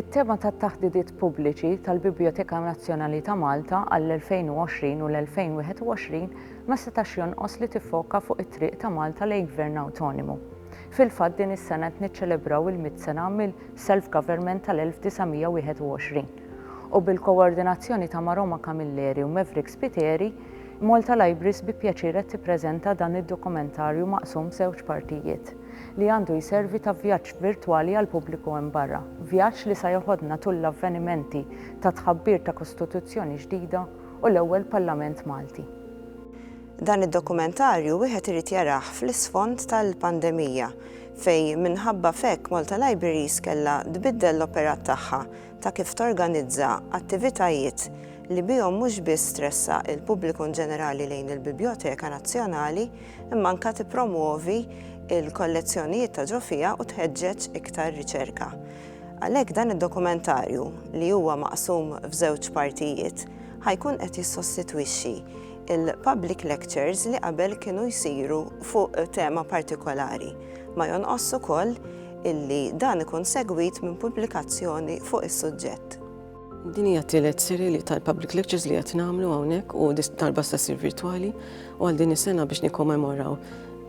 It-tema tat-taħdidiet pubbliċi tal-Biblioteka Nazzjonali ta' Malta għall-2020 u l-2021 ma setax jonqos li tiffoka fuq it-triq ta' Malta lejn gvern awtonimu. Fil-fatt din is-sena qed niċċelebraw il-mitt sena mill-self-government tal-1921 u bil-koordinazzjoni ta' Maroma Camilleri u Maverick Spiteri, Malta Libraries bi pjaċir qed tippreżenta dan id-dokumentarju maqsum f'żewġ partijiet, li għandu jservi ta' vjaġġ virtwali għall-pubbliku hemm barra, vjaġġ li sa jeħodna tul l-avvenimenti tat-tħabbir ta' Kostituzzjoni ġdida u l-ewwel Parlament Malti. Dan id-dokumentarju wieħed irid jarah fl-isfond tal-pandemija fejn minħabba f'hekk Malta Libraries kellha tbiddel l-operat tagħha ta' kif torganizza attivitajiet li bihom mhux biss tressaq il-pubbliku inġenerali lejn il-Bibljoteka Nazzjonali imma anke tippromwovi l-kollezzjonijiet ta' ġo fiha u tħeġġeġ iktar riċerka. Għalhekk dan id-dokumentarju, li huwa maqsum f'żewġ partijiet, ħa jkun qed jissostitwixxi Il-public lectures li qabel kienu jsiru fuq tema partikolari. Ma jonqosx ukoll illi dan ikun segwit minn pubblikazzjoni fuq is-suġġett. Din hija t-tielet serje li tal-public lectures li qed nagħmlu hawnhekk u dis darba se ssir virtwali u għal din is-sena biex nikkommemoraw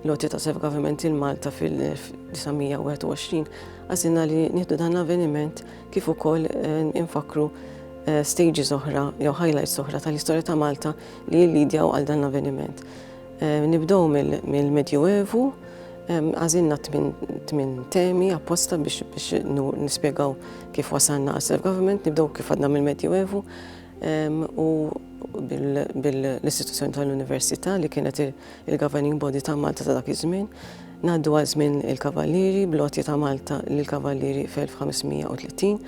l-għoti ta' Self Government lil Malta fil-1921 għażilna li nieħdu dan l-avveniment kif ukoll infakkru stages oħra jew highlights oħra tal-istorja ta' Malta li jillidjaw għal dan l-avveniment. Nibdew mill-Medju Evu, għazinna tmin temi apposta biex nispiegaw kif wasanna għal self-government, nibdew kif għadna mill-Medju Evu u bil-istituzzjoni tal-Università li kienet il-governing body ta' Malta ta' dak iż-żmien. Ngħaddu għal żmien il-Kavallieri bl-għotja ta' Malta lill-Kavallieri fl-1530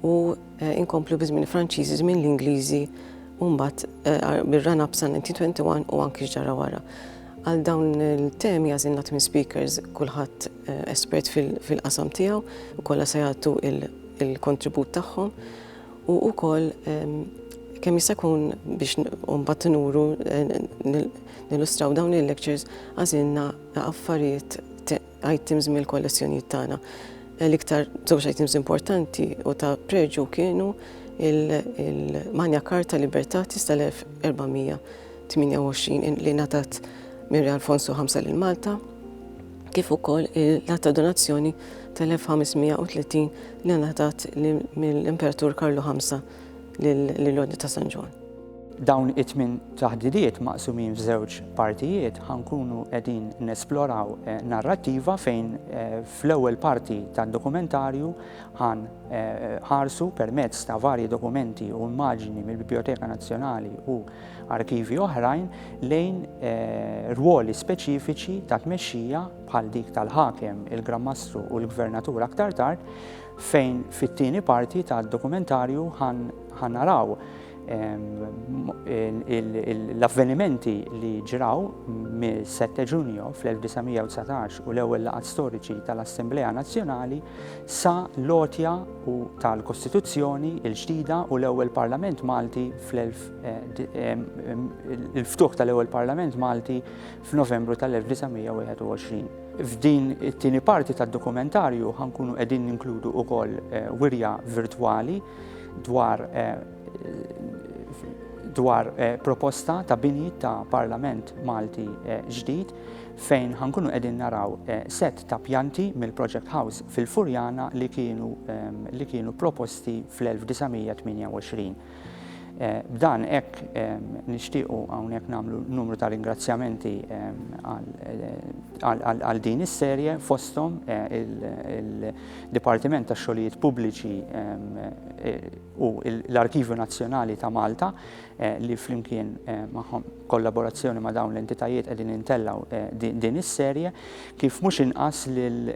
u inkomplu bi żmien il-Franċiżi, żmien l-Ingliżi u mbagħad bir-run up sa 1921 u anki x'ġara wara. Għal dawn il-temi għażilna tmien speakers kulħadd espert fil-qasam tiegħu u kollha se jagħtu il-kontribut tagħhom u wkoll kemm jista' jkun biex mbagħad nuru Nillustraw dawn il-lectures għażilna affarijiet items mill-kollezzjonijiet tagħna. L-iktar żewġ items importanti u ta' preġu kienu il-Magna Carta Libertatis tal-1428 li natat minn Re Alfonso V lil Malta kif ukoll il-lata donazzjoni tal-1530 li natat mill-Imperatur Karlu V lill-Ordni ta' San Ġwan. Dawn it-tmien taħditiet maqsumin f'żewġ partijiet ħa nkunu qegħdin nesploraw narrattiva fejn fl-ewwel parti tad-dokumentarju ħa nħarsu permezz ta' varji dokumenti u immaġini mill-Bibljoteka Nazzjonali u arkivji oħrajn lejn rwoli speċifiċi ta' tmexxija bħal dik tal-ħakem, il-Gran Mastru u l-Gvernatur aktar tard fejn fit-tieni parti tad-dokumentarju ħa naraw L-avvenimenti li ġraw mill-7 ġunju fl-1919 u l-ewwel laqgħat storiċi tal-Assemblea Nazzjonali sa l-għotja u tal-Kostituzzjoni l-ġdida u l-ewwel Parlament Malti fl-ftuħ tal-ewwel Parlament Malti f'Novembru tal-1921. F'din it-tieni parti tad-dokumentarju ħankunu qegħdin ninkludu wkoll wirja virtwali dwar dwar proposta ta' bini ta' Parlament Malti ġdid fejn ħankunu qegħdin naraw set ta' pjanti mill-Project House fil-Furjana li kienu li kienu proposti fl-1928. B'dan hekk nixtiequ hawnhekk nagħmlu numru ta' ringrazzjamenti għal din is-serje fosthom il Dipartiment tax-Xogħlijiet Pubbliċi u l-Arkivju Nazzjonali ta' Malta li flimkien magħhom kollaborazzjoni ma' dawn l-entitajiet qegħdin intellgħu din is-serje kif mhux inqas lil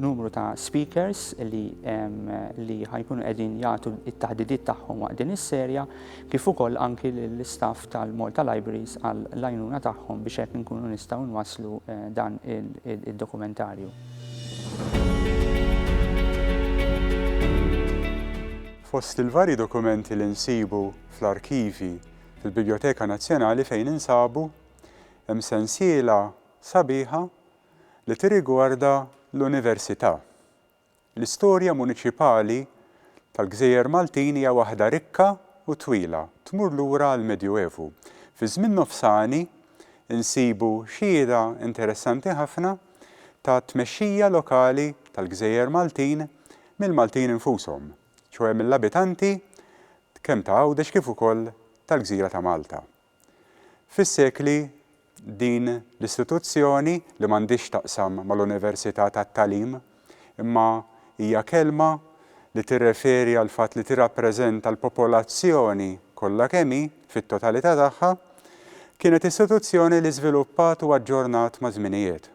numru ta' speakers li li ħajkunu qegħdin jagħtu t-taħdidiet tagħhom waqt din is-serja kif ukoll anki lill-istaff tal-Malta Libraries għall-għajnuna tagħhom biex hekk inkunu nistgħu nwasslu dan id-dokumentarju. Fost il-varji dokumenti li nsibu fl-arkivji fil-Bibljoteka Nazzjonali fejn insabu, hemm sensiela sabiħa li tirrigwarda l-Università. L-istorja muniċipali tal-gżejjer Maltin hija waħda rikka u twila, tmur lura għall-Medjuevu. Fiż-żmien nofsani nsibu xhieda interessanti ħafna, ta' tmexxija lokali tal-gżejjer Maltin mill-Maltin infushom, ċoe mill-abitanti kemm ta' Għawdex kif ukoll tal-gżira ta' Malta. Fis-sekli din l-istituzzjoni li m'għandhiex x'taqsam mal-Università tat-Tagħlim imma hija kelma li tirreferi għall-fatt li tirrappreżenta l-popolazzjoni kollha kemm hi, fit-totalità tagħha, kienet istituzzjoni li żviluppat u aġġornat maż-żminijiet.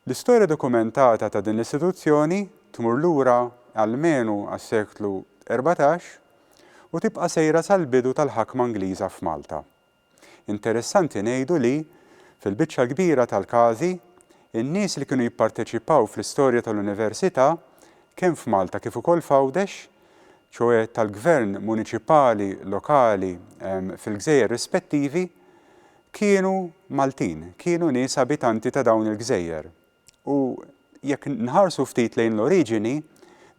L-istorja dokumentata ta' din l-istituzzjoni tmur lura almenu għas-seklu erbatax u tibqa' sejra sal-bidu tal-ħakma Ingliża f'Malta. Interessanti ngħidu li, fil-biċċa l-kbira tal-każi, in-nies li kienu jipparteċipaw fl-istorja tal-Università, kemm f'Malta kif ukoll f'Għawdex, ċoe tal-gvern muniċipali lokali fil-gżejjer rispettivi, kienu Maltin, kienu nies abitanti ta' dawn il-gżejjer. U jekk nħarsu ftit lejn l-oriġini,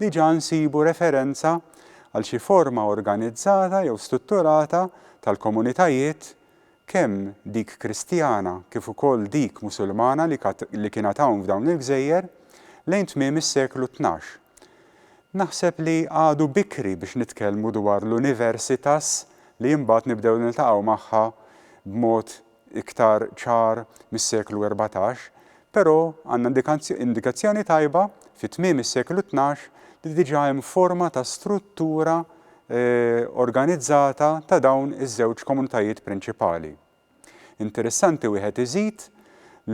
diġà nsibu referenza għal xi forma organizzata jew strutturata tal-komunitajiet, kemm dik Kristjana kif ukoll dik Musulmana li kienet hawn f'dawn il-gżejjer, lejn tmiem is-seklu tnax. Naħseb li għadu bikri biex nitkellmu dwar l-universitas li imbagħad nibdew niltaqgħu magħha b'mod iktar ċar mis-seklu erbatax, però għandna indikazzjoni tajba fi tmiem is-seklu tnax li diġà hemm forma ta' struttura organizzata ta' dawn iż-żewġ komunitajiet prinċipali. Interessanti wieħed iżid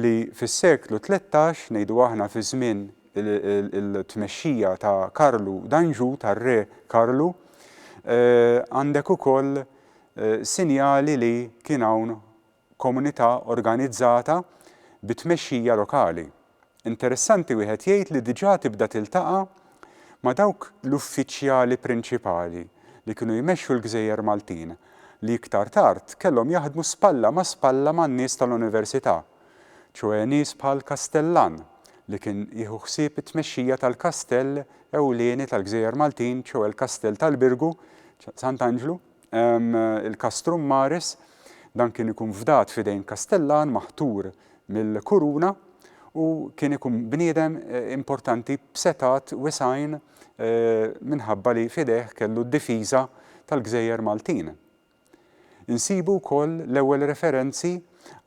li fis-seklu tlettax, ngħidu aħna fi żmien il-tmexxija ta' Karlu d'Anjou, tar-Re Karlu, għandek ukoll sinjali li kien hawn komunità organizzata bi tmexxija lokali. Interessanti wieħed jgħid li diġà tibda tiltaqa' ma' dawk l-uffiċjali prinċipali li kienu jmexxu l-gżejjer Maltin li iktar tard kellhom jaħdmu spalla ma' spalla man-nies tal-Università, ċoe nies bħal Kastellan li kien jieħu ħsieb it-tmexxija tal-kastell ewlieni tal-gżejjer Maltin ċoe l-kastell tal-Birgu, Sant'Anġlu. Il-castrum maris, dan kien ikun fdat f'idejn kastellan maħtur mill-kuruna u kien ikun bniedem importanti b'setgħat wiesgħin minħabba li f'idejh kellu d-difiża tal-gżejjer Maltin. Insibu wkoll l-ewwel referenzi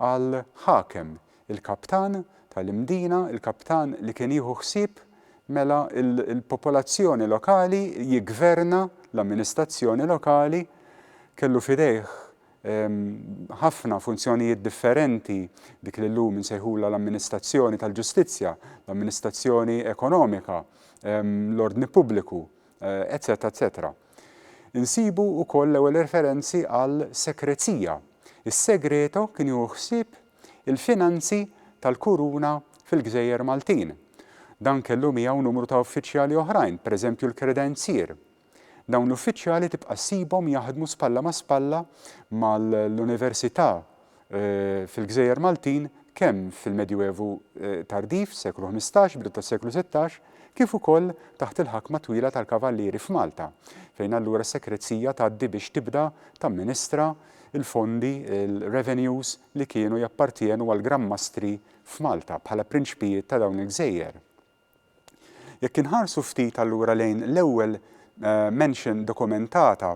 għal ħakem il-kaptan tal-imdina, il-kaptan li kien jieħu ħsieb mela l-popolazzjoni lokali, jiggverna l-amministrazzjoni lokali, kellu f'idejh ħafna funzjonijiet differenti, dik li llum insejħulha l-amministrazzjoni tal-ġustizzja, l-amministrazzjoni ekonomika, l-ordni pubbliku, eċċetera eċċetera. Insibu wkoll l-ewwel referenzi għal sekrezija. Is-segreto kien jieħu ħsieb il-finanzi tal-Kuruna fil-gżejjer Maltin. Dan kellu miegħu numru ta' uffiċjali oħrajn, pereżempju l-kredenzier. Dawn l-uffiċjali tibqa' ssibhom jaħdmu spalla ma' spalla mal-università fil-gżejjer Maltin kemm fil-Medjuevu tardiv, seklu ħmistax, bidu tas-seklu sittax, kif ukoll taħt il-ħakma twila tal-Kavallieri f'Malta, fejn allura s-Sekrezzija tgħaddi biex tibda tamministra il-fondi, il-revenues, li kienu jappartjenu għall-Gran Mastri f'Malta bħala prinċpijiet ta' dawn il-gżejjer. Jekk inħarsu ftit allura lejn l-ewwel mention dokumentata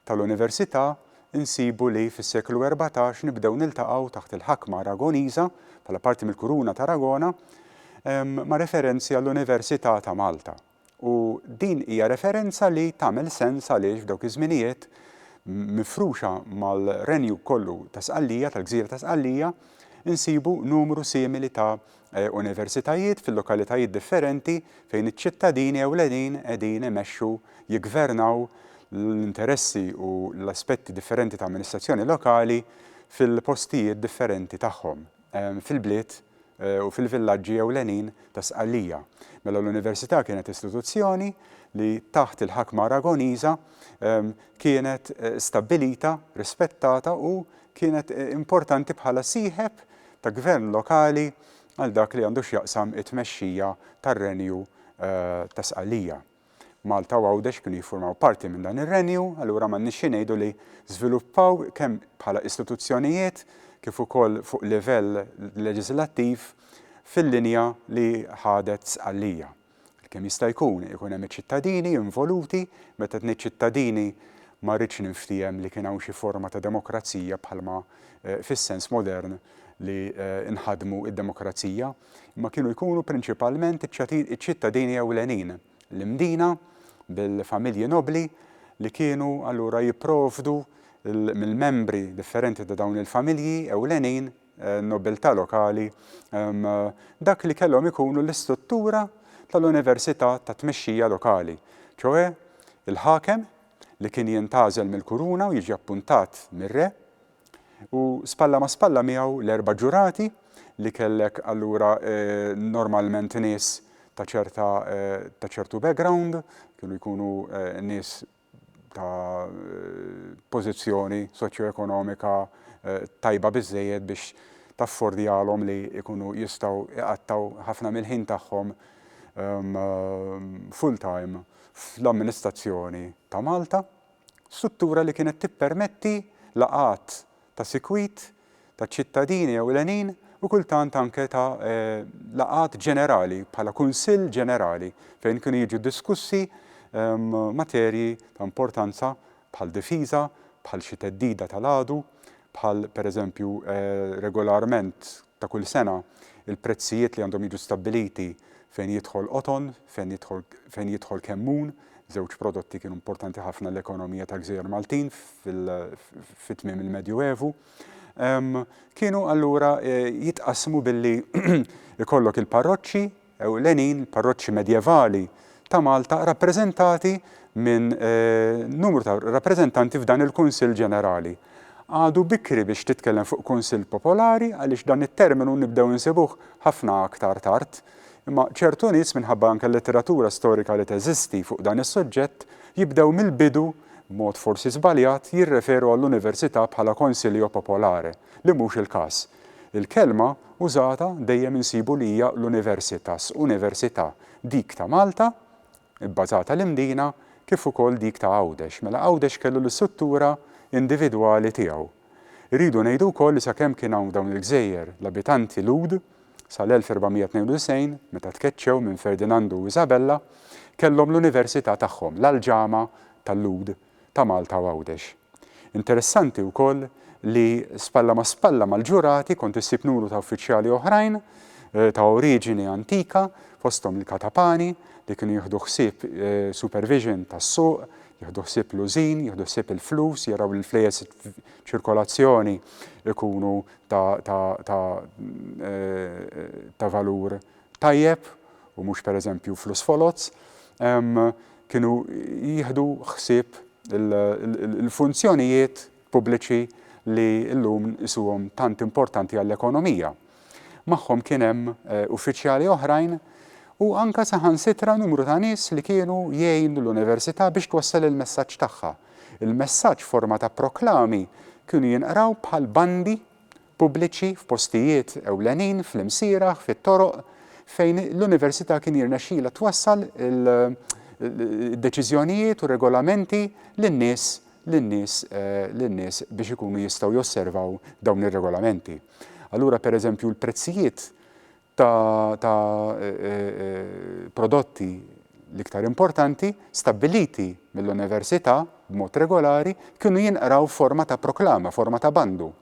tal-Università, insibu li fis-seklu erbatax nibdew niltaqgħu taħt il-ħakma Aragoniża bħala parti mill-Kuruna t'Aragona ma' referenzi għall-Università ta' Malta. U din hija referenza li tagħmel sens għaliex f'dawk iż-żminijiet, mifruxa mal-renju kollu ta' Sqallija, tal-gżira ta' Sqallija, insibu numru simili ta' universitajiet fil-lokalitajiet differenti fejn iċ-ċittadini ewlenin qegħdin imexxu, jiggvernaw l-interessi u l-aspetti differenti ta' amministrazzjoni lokali fil-postijiet differenti tagħhom. fil-bliet u fil-villaġġi ewlenin ta' Sqallija. Mela l-Università kienet istituzzjoni li taħt il-ħakma Aragoniża kienet stabbilita, rispettata u kienet importanti bħala sieħeb ta' gvern lokali għal dak li għandu x'jaqsam it-tmexxija tar-Renju ta' Sqallija. Malta u Għawdex kienu jiffurmaw parti minn dan ir-Renju, allura m'għandniex xi ngħidu li żviluppaw kemm bħala istituzzjonijiet kif ukoll fuq livell leġiżlattiv fil-linja li ħadet Sqallija. Kemm jista' jkun ikun hemm iċ-ċittadini involuti, meta qed ngħid ċittadini ma rridx ninftiehem li kien hawn xi forma ta' demokrazija bħalma fis-sens modern li nħaddmu d-demokrazija, imma kienu jkunu prinċipalment iċ-ċittadini ewlenin, l-imdina, bil-familji nobbli li kienu allura jipprovdu mill-membri differenti ta' dawn il-familji ewlenin, nobbiltà lokali, dak li kellhom ikunu l-istruttura tal-università tat-tmexxija lokali, ċoe l-ħakem li kien jintgħażel mill-kuruna u jiġi appuntat mir-re, U spalla ma' spalla miegħu l-erba' ġurati li kellek allura normalment nies ta' ċerta ta' ċertu background, kienu jkunu nies ta' pożizzjoni soċjoekonomika tajba biżżejjed biex taffordjalhom li jkunu jistgħu jqattgħu ħafna mill-ħin tagħhom full-time fl-amministrazzjoni ta' Malta. Struttura li kienet tippermetti laqgħat ta' sikwit ta' ċittadini ewlenin u kultant anke ta' laqgħat ġenerali bħala kunsill ġenerali fejn kienu jiġu diskussi materji ta' importanza bħal difiża, bħal xi theddida tal-għadu, bħal pereżempju regolarment ta' kull sena, il-prezzijiet li għandhom jiġu stabbiliti fejn jidħol qoton, fejn jidħol fejn jidħol kemmun, żewġ prodotti kienu importanti ħafna għall-ekonomija tal-gżejjer Maltin fi tmiem il-Medju Evu, kienu allura jitqassmu billi jkollok il-parroċċi, ewlenin, il-parroċċi medjevali ta' Malta, rappreżentati minn numru ta' rappreżentanti f'dan il-Kunsill Ġenerali. Għadu bikri biex titkellem fuq Kunsill Popolari għaliex dan it-terminu nibdew insibuh ħafna aktar tard, imma ċertu nies, minħabba anke l-letteratura storika li teżisti fuq dan is-suġġett, jibdew mill-bidu, b'mod forsi żbaljat, jirreferu għall-Università bħala Consilio Popolare, li mhux il-każ. Il-kelma użata dejjem insibu li hija l-Universitas, Università, dik ta' Malta, ibbażata l-Imdina, kif ukoll dik ta' Għawdex. Mela Għawdex kellu l-istruttura individwali tiegħu. Irridu ngħidu wkoll li sakemm kien hawn f'dawn il-gżejjer l-abitanti Lhud, sal-1492, meta tkeċċew minn Ferdinandu u Isabella, kellhom l-Università tagħhom, l-Aljama tal-Lhud, ta' Malta u Għawdex. Interessanti wkoll li spalla ma' spalla mal-ġurati kont issib numru ta' uffiċjali oħrajn ta' oriġini antika fosthom il-katapani li kienu jieħdu ħsieb supervision tas-suq, jieħdu ħsieb l-użin, jieħdu ħsieb il-flus, jaraw li l-flejjes f'ċirkolazzjoni jkunu ta' valur tajjeb u mhux pereżempju flus foloz, kienu jieħdu ħsieb il-funzjonijiet pubbliċi li llum nqisuhom tant importanti għall-ekonomija. Magħhom kien hemm uffiċjali oħrajn u anke saħansitra numru ta' nies li kienu jgħinu l-Università biex twassal il-messaġġ tagħha. Il-messaġġ f'forma ta' proklami kienu jinqraw bħal bandi pubbliċi f'postijiet ewlenin, fl-imsieragħ, fit-toroq, fejn l-Università kien jirnexxilha twassal il-deċiżjonijiet u r-regolamenti lin-nies lin-nies lin-nies biex ikunu jistgħu josservaw dawn ir-regolamenti. Allura pereżempju l-prezzijiet ta' ta' prodotti l-iktar importanti, stabbiliti mill-Università b'mod regolari, kienu jinqraw f'forma ta' proklama, forma ta' bandu.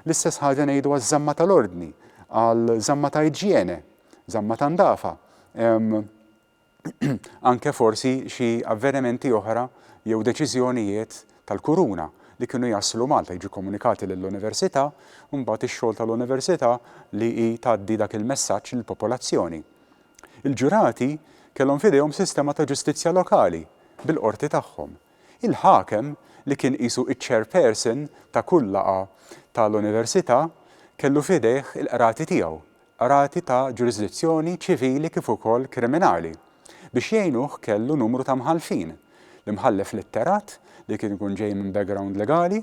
L-istess ħaġa ngħidu għaż-żamma tal-ordni, għal żamma ta' iġjene, żamma ta' ndafa. anke forsi xi avvenimenti oħra jew deċiżjonijiet tal-Kuruna li kienu jaslu Malta, jiġu kkomunikati lill-Università, u mbagħad ix-xogħol tal-Università li hi tgħaddi dak il-messaġġ lill-popolazzjoni. Il-ġurati kellhom f'idejhom sistema ta' ġustizzja lokali bil-qorti tagħhom. Il-ħakem li kien qisu iċ-chairperson ta' kull laqgħa tal-Università kellu f'idejh il-qrati tiegħu, qrati ta' ġurisdizzjoni ċivili kif ukoll kriminali. Biex jgħinuh kellu numru ta' mħallfin, l-imħallef litterat li kien ikun ġej minn background legali,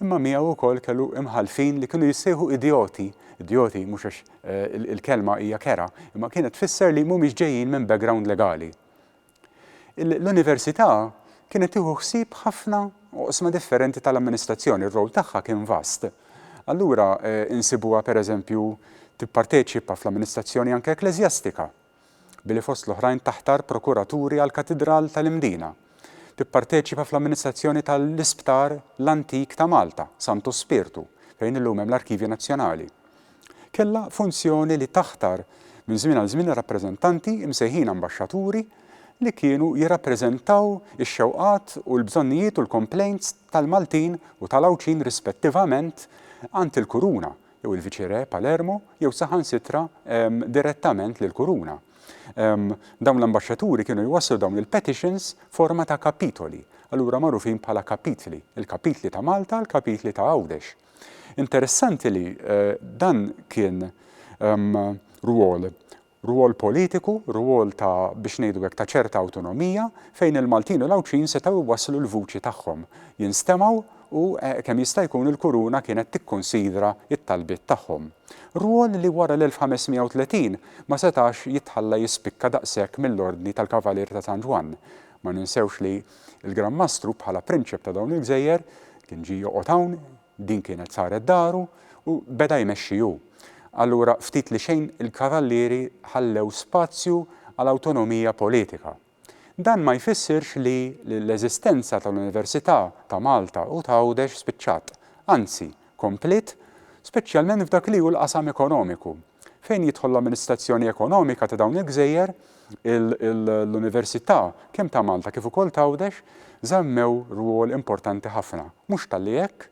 imma miegħu wkoll kellu imħallfin li kienu jissejħu idjoti, idjoti mhux għax il-kelma hija kerha, imma kienet tfisser li mhumiex ġejjin minn background legali. L-Università kienet tieħu ħsieb ħafna oqsma differenti tal-amministrazzjoni, r-rol tagħha kien vast. Allura insibuha pereżempju tipparteċipa fl-amministrazzjoni anke ekkleżjastika, billi fost l-oħrajn taħtar prokuraturi għall-Katidral tal-Imdina, tipparteċipa fl-amministrazzjoni tal-Isptar l-Antik ta' Malta, Santu Spirtu, fejn illum hemm l-Arkivju Nazzjonali. kellha funzjoni li taħtar minn żmien għal żmien rappreżentanti imsejħin ambaxxaturi li kienu jirrappreżentaw ix-xewqat u l-bżonnijiet u l-komplejnts tal-Maltin u tal-Għawdxin rispettivament għand il-Kuruna jew il-Viċi-Re Palermo jew saħansitra direttament lill-Kuruna. Dawn l-ambaxxaturi kienu jwasslu dawn il-petitions forma ta' kapitoli, allura magħrufin bħala kapitli, il-kapitli ta' Malta, il-kapitli ta' Għawdex. Interessanti li dan kien rwol rwol politiku, rwol ta' biex ngħidu hekk ta' ċerta awtonomija fejn il-Maltin u l-Għawdxin setgħu jwasslu l-vuċi tagħhom, jinstemgħu u kemm jista' jkun il-Kuruna kienet tikkunsidra t-talbiet tagħhom. Rwol li wara l-1530 ma setax jitħalla jispikka daqshekk mill-Ordni tal-Kavalier ta' San Ġwann, Ma ninsewx li l-Gran Mastru bħala prinċep ta' dawn il-gżejjer kien ġie joqgħod hawn, din kienet saret daru u beda jmexxi hu. Allura ftit li xejn il-Kavallieri ħallew spazju għal awtonomija politika. Dan ma jfissirx li l-eżistenza tal-Università ta' Malta u t'Għawdex spiċċat, anzi kompliet, speċjalment f'dak li hu l-qasam ekonomiku. Fejn jidħol l-amministrazzjoni ekonomika ta' dawn il-gżejjer, l-università kemm ta' Malta kif ukoll t'Għawdex żammew rwol importanti ħafna. Mhux talli hekk,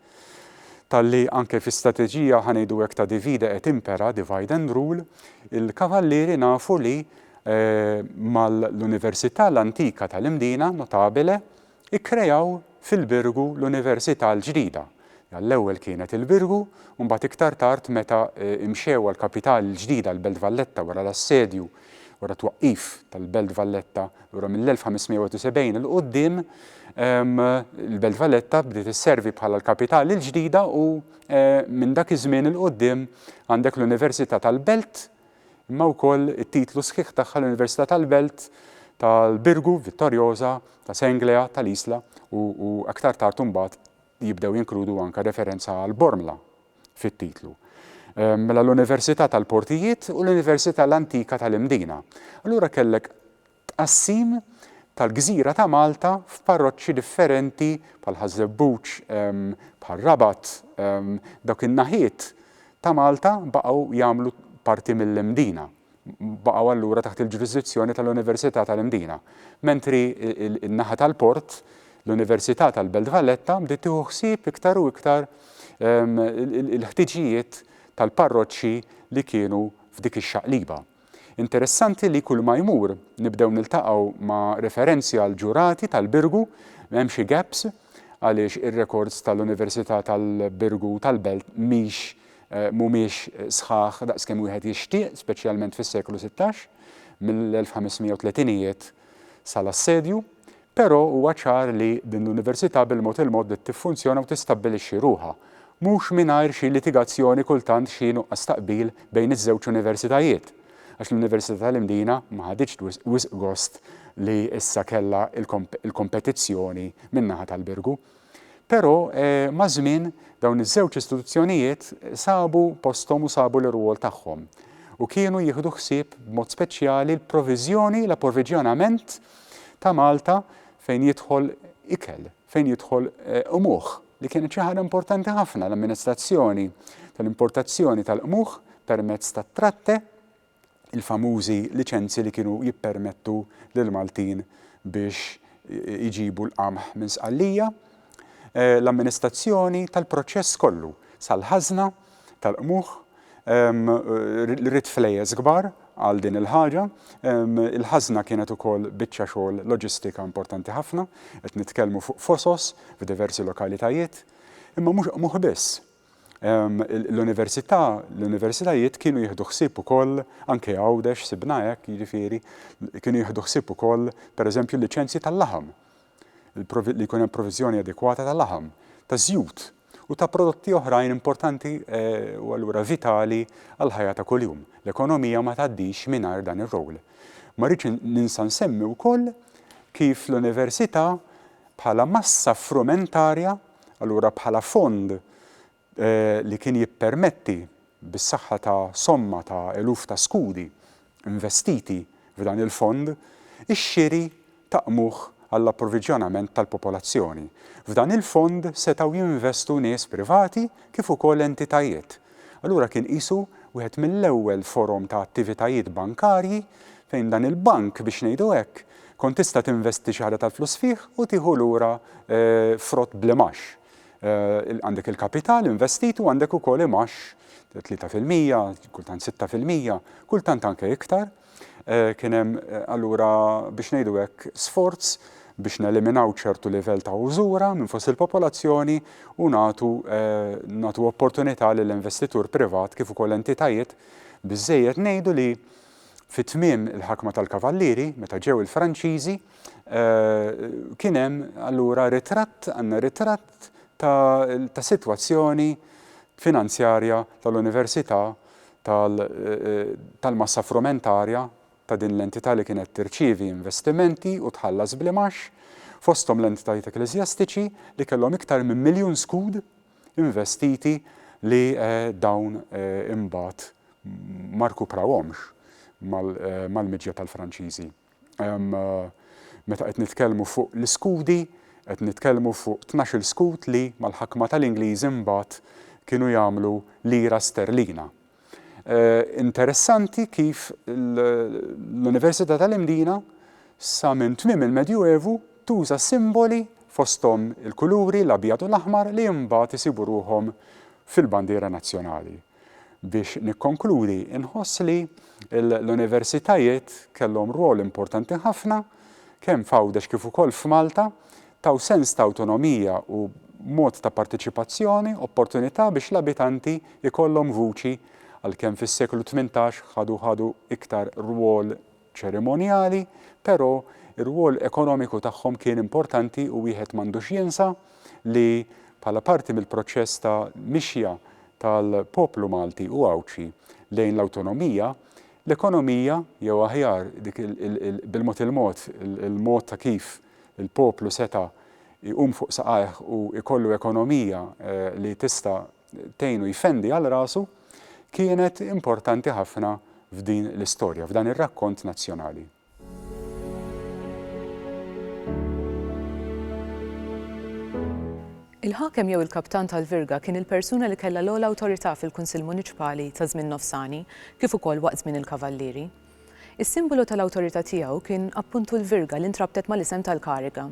talli anke fi strateġija ħa ngħidu hekk ta' divide et impera, divide and rule, il-Kavallieri nafu li mal-università l-antika tal-Imdina, notabile, Ikkreaw fil-Birgu l-Università l-ġdida. Għall-ewwel kienet il-Birgu u mbagħad iktar tard meta mxew għall-kapitali l-ġdida l-Belt Valletta wara l-assedju, wara t-twaqqif tal-Belt Valletta, lura mill-1571 'l quddiem l-Belt Valletta bdiet isservi bħala l-kapitali l-ġdida u minn dak iż-żmien 'l quddiem għandek l-Università tal-Belt imma wkoll it-titlu sħiħ tagħha l-Università tal-Belt tal-Birgu, Vittoriosa, ta' Senglea, tal-Isla u, u aktar tard imbagħad jibdew jinkludu anke referenza għal Bormla fit-titlu. Ehm, mela l-Università tal-Portijiet u l-Università l-Antika tal-Imdina. Allura kellek Tqassim tal-gżira ta' Malta f'parroċċi differenti bħal Ħaż-Żebbuġ, bħal Rabat, dawk in-naħiet ta' Malta baqgħu jagħmlu parti mill-Imdina, baqgħu allura taħt il-ġurisdizzjoni tal-Università tal-Imdina, mentri n-naħa tal-port, l-Università tal-Belt Valletta bdiet tieħu ħsieb iktar u iktar il-ħtiġijiet tal-parroċċi li kienu f'dik ix-xaqliba. Interessanti li kull ma jmur nibdew niltaqgħu ma' referenzi għal ġurati tal-Birgu, hemm xi gaps għaliex ir-rekords tal-Università tal-Birgu tal-Belt mhix mhumiex sħaħ daqskemm wieħed jixtieq, speċjalment fis-seklu sittax, mill-1530ijiet sal-assedju, Però huwa ċar li din l-Università bil-mod il-mod bdiet tiffunzjona u tistabbilixxi ruħha, mhux mingħajr xi litigazzjoni kultant xi nuqqas ta' qbil bejn iż-żewġ Universitajiet, għax l-Università tal-Imdina ma ħaditx wisq gost li issa kellha l-kompetizzjoni min-naħa tal-Birgu. Però maż-żmien dawn iż-żewġ istituzzjonijiet sabu posthom u sabu l-irwol tagħhom u kienu jieħdu ħsieb b'mod speċjali l-proviżjoni, l-approviġjonament ta' Malta fejn jidħol ikel, fejn jidħol qmuħ li kienet xi ħaġa importanti ħafna l-amministrazzjoni tal-importazzjoni tal-qmuħ permezz tat-tratte. il-famużi liċenzji li kienu jippermettu lill-Maltin biex iġibu l-qamħ minn Sqallija, l-amministrazzjoni tal-proċess kollu sal-ħażna tal-qmuħ, rrid flejjes kbar għal din il-ħaġa, il-ħażna kienet ukoll biċċa xogħol loġistika importanti ħafna, qed nitkellmu fuq fosos f'diversi lokalitajiet, imma mhux qmuħ biss, L-università, l-universitajiet kienu jieħdu ħsieb ukoll, anke Għawdex sibna hekk, jiġifieri, kienu jieħdu ħsieb ukoll, pereżempju, l-liċenzji tal-laħam, li jkun hemm proviżjoni adekwata ta' laħam, ta' żjut u ta' prodotti oħrajn importanti u allura vitali għall-ħajja ta' kuljum. L-ekonomija ma tgħaddix mingħajr dan ir-rowl. Ma rridx ninsa nsemmi wkoll kif l-università bħala massa frumentarja allura bħala fond li kien jippermetti, bis-saħħa ta' somma ta' eluf ta' skudi investiti f'dan il-fond, ix-xiri ta' qmuħ għall-approvviġjonament tal-popolazzjoni. F'dan il-fond setgħu jinvestu nies privati kif ukoll entitajiet. Allura kien qisu wieħed mill-ewwel forom ta' attivitajiet bankarji fejn dan il-bank, biex ngħidu hekk, kont tista' tinvesti xi ħaġa tal-flus fih u tieħu lura frott bl-imgħax. Għandek il-kapital investitu għandek ukoll imgħax 3%, kultant 6%, kultant anke iktar. Kien hemm allura, biex ngħidu hekk, sforz biex neliminaw ċertu livell ta' użura minn fost il-popolazzjoni u nagħtu nagħtu opportunità lil investitur privat kif ukoll entitajiet biżżejjed ngħidu li fi tmiem il-ħakma tal-Kavallieri meta ġew il-Franċiżi kien hemm allura ritratt għandna ritratt ta' sitwazzjoni finanzjarja tal-Università tal-massa frumentarja ta' din l-entità li kienet tirċievi investimenti u tħallas bl-imgħax, fosthom l-entitajiet ekkleżjastiċi li kellhom iktar minn miljun skud investiti li dawn imbagħad ma rkuprawhomx mal-miġja tal-Franċiżi. Meta qed nitkellmu fuq l-iskudi, qed nitkellmu fuq tnax-il skud li, mal-ħakma tal-Ingliżi imbagħad kienu jagħmlu lira sterlina. Interessanti kif l-Università tal-Imdina sa minn tmiem il-Medju Evu tuża simboli fosthom il-kuluri l-abjad u l-aħmar li imbagħad isibu ruħhom fil-bandiera nazzjonali. Biex nikkonkludi, inħoss li l-universitajiet kellhom rwol importanti ħafna, kemm f'Għawdex kif ukoll f'Malta, taw sens ta' awtonomija u mod ta' parteċipazzjoni, opportunità biex l-abitanti jkollhom vuċi, għalkemm fis-seklu tmintax ħadu ħadu iktar rwol ċerimonjali, però r-rwol ekonomiku tagħhom kien importanti u wieħed m'għandux jinsa li bħala parti mill-proċess ta' mixja tal-poplu Malti u Għawdxi lejn l-awtonomija, l-ekonomija, jew aħjar dik bil-mod il-mod il-mod ta' kif il-poplu seta' jqum fuq saqajh u jkollu ekonomija li tista' tgħinu jfendi għal rasu kienet importanti ħafna f'din l-istorja, f'dan ir-rakkont nazzjonali. Il-ħakem jew il-kaptan tal-virga kien il-persuna li kellha l-ogħla awtorità fil-Kunsill Muniċpali ta' żmien nofsani kif ukoll waqt żmien il-Kavallieri. Is-simbolu tal-awtorità tiegħu kien appuntu l-virga li ntrabtet mal-isem tal-kariga.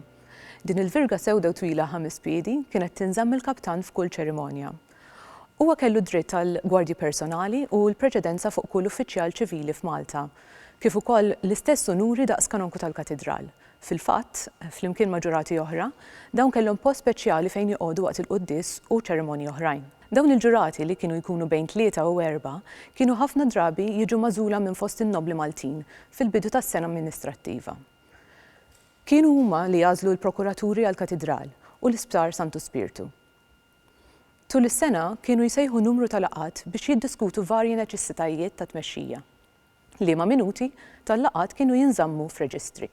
Din il-virga sewda u twila ħames piedi kienet tinżamm mill-kaptan f'kull ċerimonja. Huwa kellu d-dritt għal gwardji personali u l-preċedenza fuq kull uffiċjal ċivili f'Malta, kif ukoll l-istess unuri daqs kanonku tal-katidral. Fil-fatt, flimkien ma' ġurati oħra, dawn kellhom post speċjali fejn joqogħdu waqt il-quddies u ċerimonji oħrajn. Dawn il-ġurati, li kienu jkunu bejn tlieta u erbgħa, kienu ħafna drabi jiġu magħżula minn fost in-nobbli Maltin fil-bidu tas-sena amministrattiva. Kienu huma li għażlu l-prokuraturi għall-Katidral u l-Isptar Santu Spirtu. Tul is-sena kienu jsejħu numru ta' laqgħat biex jiddiskutu varji neċessitajiet ta' tmexxija. Liema minuti tal-laqgħat kienu jinżammu f'reġistri.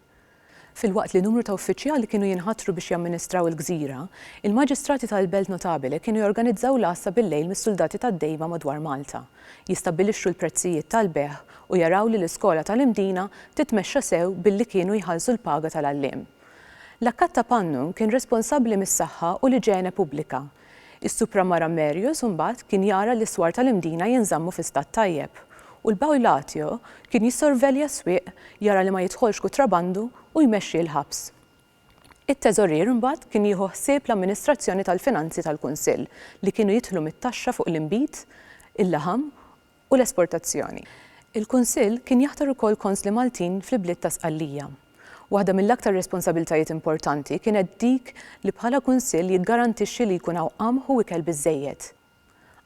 Filwaqt li numru ta' uffiċjali kienu jinħatru biex jamministraw il-gżira, il-Maġistrati tal-Belt Notabile kienu jorganizzaw l-għassa bil-lejl mis-suldati tad-dejba madwar Malta. jistabbilixxu l-prezzijiet tal-bejgħ u jaraw li l-iskola tal-Imdina titmexxa sew billi kienu jħallsu l-paga tal-għalliem. L-Akkatta Pannu kien responsabbli mis-saħħa u l-iġene pubblika. Is-Supramara Merius imbagħad kien jara li s-swar tal-Imdina jinżammu fi stat tajjeb u l-Baulatio kien jissorvelja s-swieq jara li ma jidħolx kutrabandu u jmexxi l-ħabs. It-Teżorier imbagħad kien jieħu ħsieb l-amministrazzjoni tal-finanzi tal-Kunsill li kienu jidħlu mit-taxxa fuq l-inbid, il-laħam u l-esportazzjoni. Il-Kunsill kien jaħtar ukoll konsli Maltin fl-ibliet ta' Sqallija. Waħda mill-aktar responsabiltajiet importanti kienet dik li bħala Kunsill jiggarantixxi li jkun hawn qamħ u ikel biżżejjed.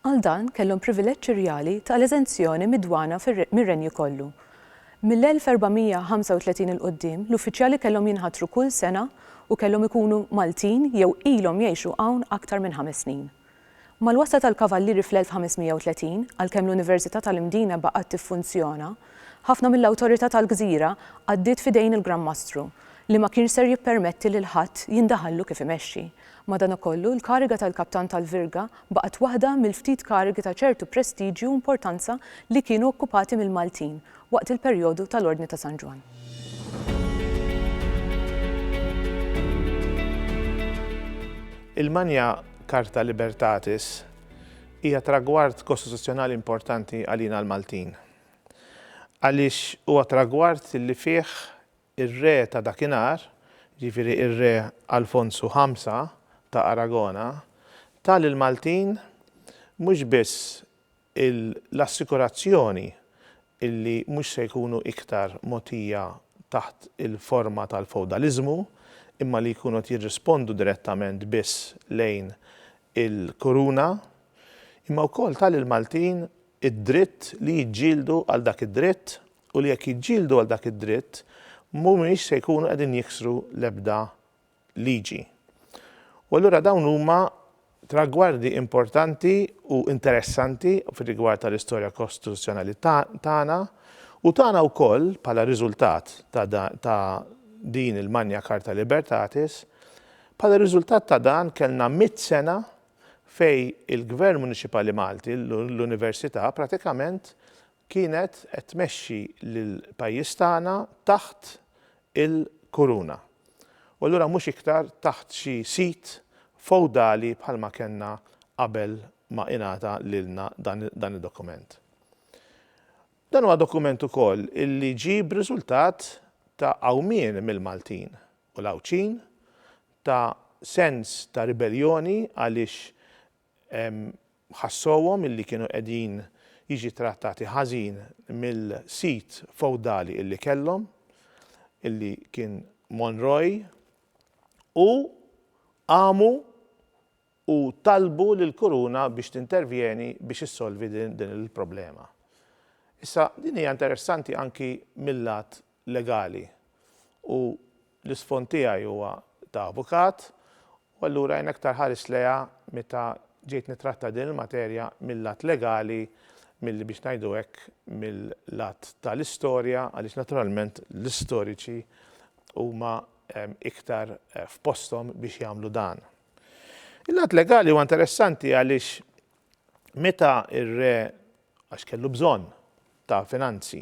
Għal dan kellhom privileġġ irjali ta' l-eżenzjoni mid-dwana mir-Renju kollu. Mill-1435 'il quddiem, l-uffiċjali kellhom jinħatru kull sena u kellhom ikunu Maltin jew ilhom jgħixu hawn aktar minn ħames snin. Mal-wasla tal-Kavallieri fl-1530, għalkemm l-Università tal-Imdina baqgħet tiffunzjona, ħafna mill-awtorità tal-gżira għaddiet f'idejn il-Gran Mastru, li ma kienx ser jippermetti lil ħadd jindaħallu kif imexxi. Madanakollu, l-kariga tal-kaptan tal-virga baqgħet waħda mill-ftit karigi ta' ċertu prestiġju u importanza li kienu okkupati mill-Maltin waqt il-perjodu tal-Ordni ta' San Ġwann. Il-Magna Charta Libertatis hija tragward kostituzzjonali importanti għalina l-Maltin, għaliex huwa tragward li fih Ir-re ta' dakinhar, jiġifieri r-re Alfonsu Ħamsa ta' Aragona, ta lill-Maltin mhux biss l-assikurazzjoni li mhux se jkunu iktar mogħtija taħt il-forma tal-fewdaliżmu imma li jkunu qed jirrispondu direttament biss lejn il-Kuruna, imma wkoll ta lill-Maltin id-dritt li jiġġieldu għal dak id-dritt u li jekk jiġġieldu għal dak id-dritt mhumiex se jkunu qegħdin jiksru l-ebda liġi. U allura dawn huma tragwardi importanti u interessanti fir-rigward tal-istorja kostituzzjonali tagħna u tagħna wkoll bħala riżultat ta' din il-Magna Carta Libertatis, bħala riżultat ta' dan kellna mitt sena fej il-Gvern Muniċipali Malti, l-Università, pratikament kienet qed tmexxi lill-pajjiż tagħna taħt il-kuruna u allura mhux iktar taħt xi sid fewdali bħalma kellna qabel ma ingħata lilna dan id-dokument. Dan huwa dokument ukoll illi ġie b'riżultat ta' għawmien mill-Maltin u l-Għawdxin ta' sens ta' ribelljoni għaliex ħassowhom illi kienu qegħdin jiġi trattati ħażin mill-sit fewdali illi kellhom, illi kien Monroy, u qamu u talbu lill-Kuruna biex tintervjeni biex issolvi din il-problema. Issa, din hija interessanti anki mil-lat legali u l-isfond tiegħi huwa ta' avukat u allura jien aktar ħarist lejha meta ġejt nittratta din il-materja mil-lat legali milli biex ngħidu hekk mil-lat tal-istorja għaliex naturalment l-istoriċi huma iktar f'posthom biex jagħmlu dan. Il-lat legali huwa interessanti għaliex meta r-re għax kellu bżonn ta' finanzi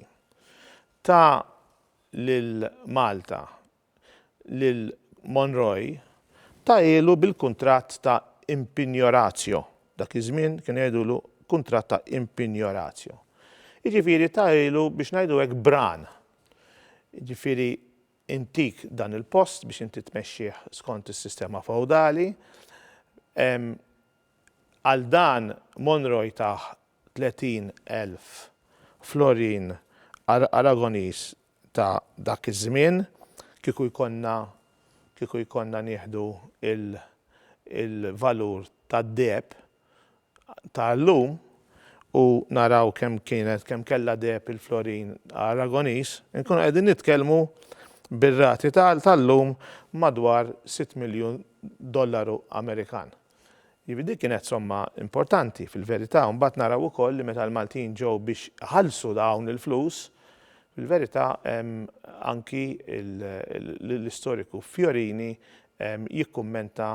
Ta lil Malta lil Monroe tagħhielu bil-kuntratt ta' impignoratio, dak iż-żmien kienu jgħidulu kuntratt ta' impignoratio. Jiġifieri tagħhielu biex ngħidu hekk bran. Jiġifieri intik dan il-post biex inti tmexxih skont is-sistema fewdali, Għal dan Monro jtah 30 elf florin Aragoniż ta' dak iż-żmien, kieku jkollna kieku jkollna nieħdu il il-valur tad-deheb ta' llum u naraw kemm kienet kemm kellha deheb il-florin Aragoniż, inkunu qegħdin nitkellmu bir-rati ta' llum madwar sitt miljun dollaru Amerikan. Jiġifieri din kienet somma importanti fil-verità u mbagħad naraw ukoll li meta l-Maltin ġew biex iħallsu dawn il-flus, fil-verità anki l-istoriku Fiorini jikkummenta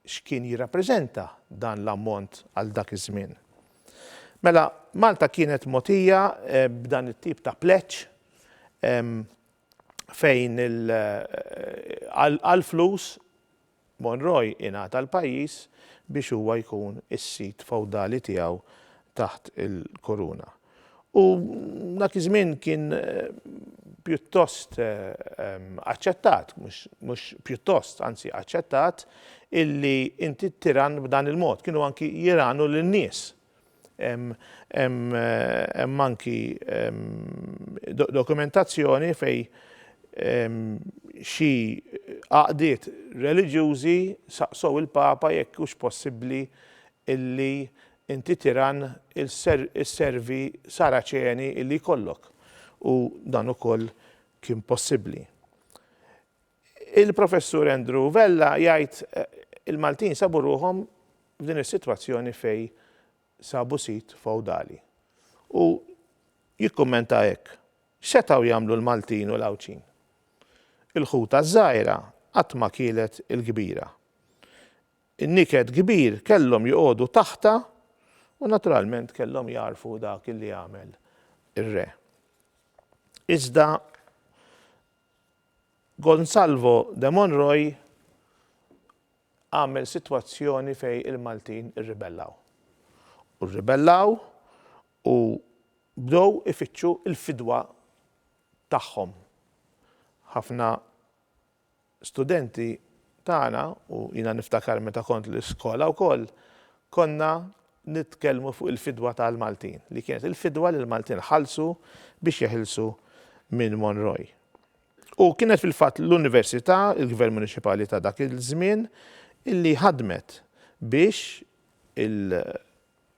x'kien jirrappreżenta dan l-ammont għal dak iż-żmien. Mela, Malta kienet mogħtija b'dan it-tip ta' pleġġ fejn għall-flus Monroy ingħata l-pajjiż biex huwa jkun is-sid fewdali tiegħu taħt il-Kuruna. U dak iż-żmien kien pjuttost aċċettat, mhux pjuttost, anzi aċċettat, illi inti ttirann b'dan il-mod. Kienu anki jiragħnu lin-nies. Hemm anki dokumentazzjoni fejn xi għaqdiet reliġjużi saqsew il-Papa jekk hux possibbli illi inti tiran isservi Saraċeni illi jkollok u dan ukoll kien possibbli. Il-Professur Andrew Vella jgħid il-Maltin sabu ruħhom f'din is-sitwazzjoni fejn sabu sit fewdali u jikkummenta hekk, X'setgħu jagħmlu l-Maltin u l-Għawdxin? Il-ħuta ż-żgħira qatt ma kielet il-kbira. In-niket kbir kellhom joqogħdu taħtha u naturalment kellhom jagħrfu dak li għamel ir-re. Iżda Gonsalvo de Monroy għamel sitwazzjoni fejn il-Maltin irribellaw. U rribellaw u bdew ifittxu l-fidwa tagħhom. Ħafna studenti tagħna, u jiena niftakar meta kont l-iskola wkoll, konna nitkellmu fuq il-fidwa tal-Maltin, li kienet il-fidwa li l-Maltin ħallsu biex jeħilsu minn Monroe. U kienet fil-fatt l-Università, il-Gvern Muniċipali ta' dak iż-żmien, illi ħadmet biex il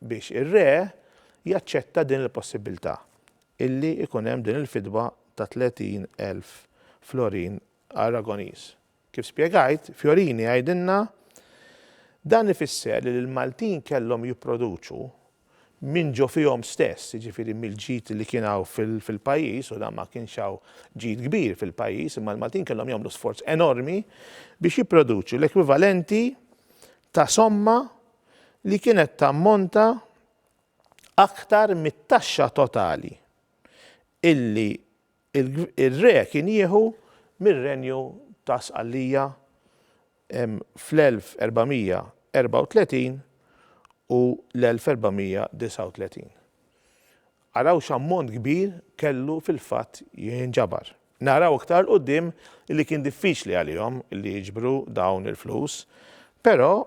biex ir-re jaċċetta din il-possibbiltà illi ikun hemm din il-fidwa ta' 30,000 florin Aragonese. Kif spjegajt, Fiorini għidilna, Dan ifisser li l-Maltin kellhom jipproduċu minn ġo fihom stess, jiġifieri mill-ġid li kien hawn fil-pajjiż, u dan ma kienx hawn ġid kbir fil-pajjiż, imma l-Maltin kellhom jagħmlu sforz enormi biex jipproduċu l-ekwivalenti ta' somma li kienet tammonta aktar mit-taxxa totali illi Ir-Re kien jieħu mir-Renju ta' Sqallija fl-1434 u l-1439. Araw x'ammont kbir kellu fil-fatt jinġabar. Naraw iktar 'l quddiem li kien diffiċli għalihom li jiġbru dawn il-flus, però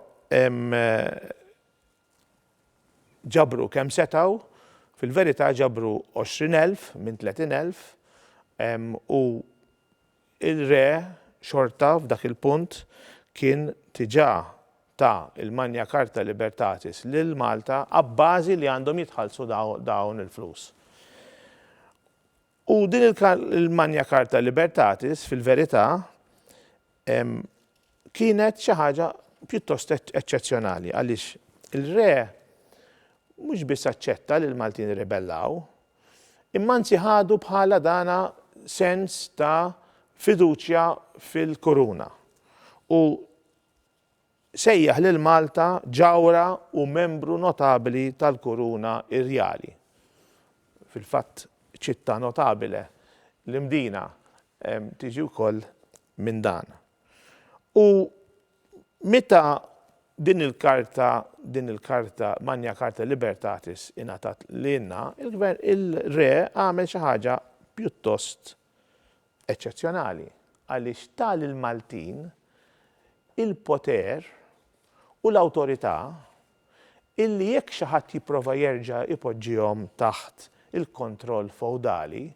Ġabru kemm setgħu, fil-verità ġabru għoxrin elf minn tletin elf u r-Re xorta f'dak il-punt kien diġà ta l-Magna Charta Libertatis lil Malta abbażi li għandhom jitħallsu dawn il-flus. U din il-Magna Carta Libertatis, fil-verità, kienet xi ħaġa pjuttost eċċezzjonali għaliex il-Re mhux biss aċċetta li l-Maltin irribellaw, imma anzi ħadu bħala dana sens ta' fiduċja fil-Kuruna. U Sejjaħ lil Malta ġawhra u membru notabili tal-kuruna irjali. Fil-fatt città notabile, l-Imdina, tiġi wkoll minn dan. U meta din il-karta, din il-karta, Magna Carta Libertatis ingħatat lilna, il-Gvern, il-Re għamel xi ħaġa pjuttost eċċezzjonali għaliex ta lill-Maltin il-poter u l-awtorità illi jekk xi ħadd jipprova jerġa' jpoġġihom taħt il-kontroll fewdali,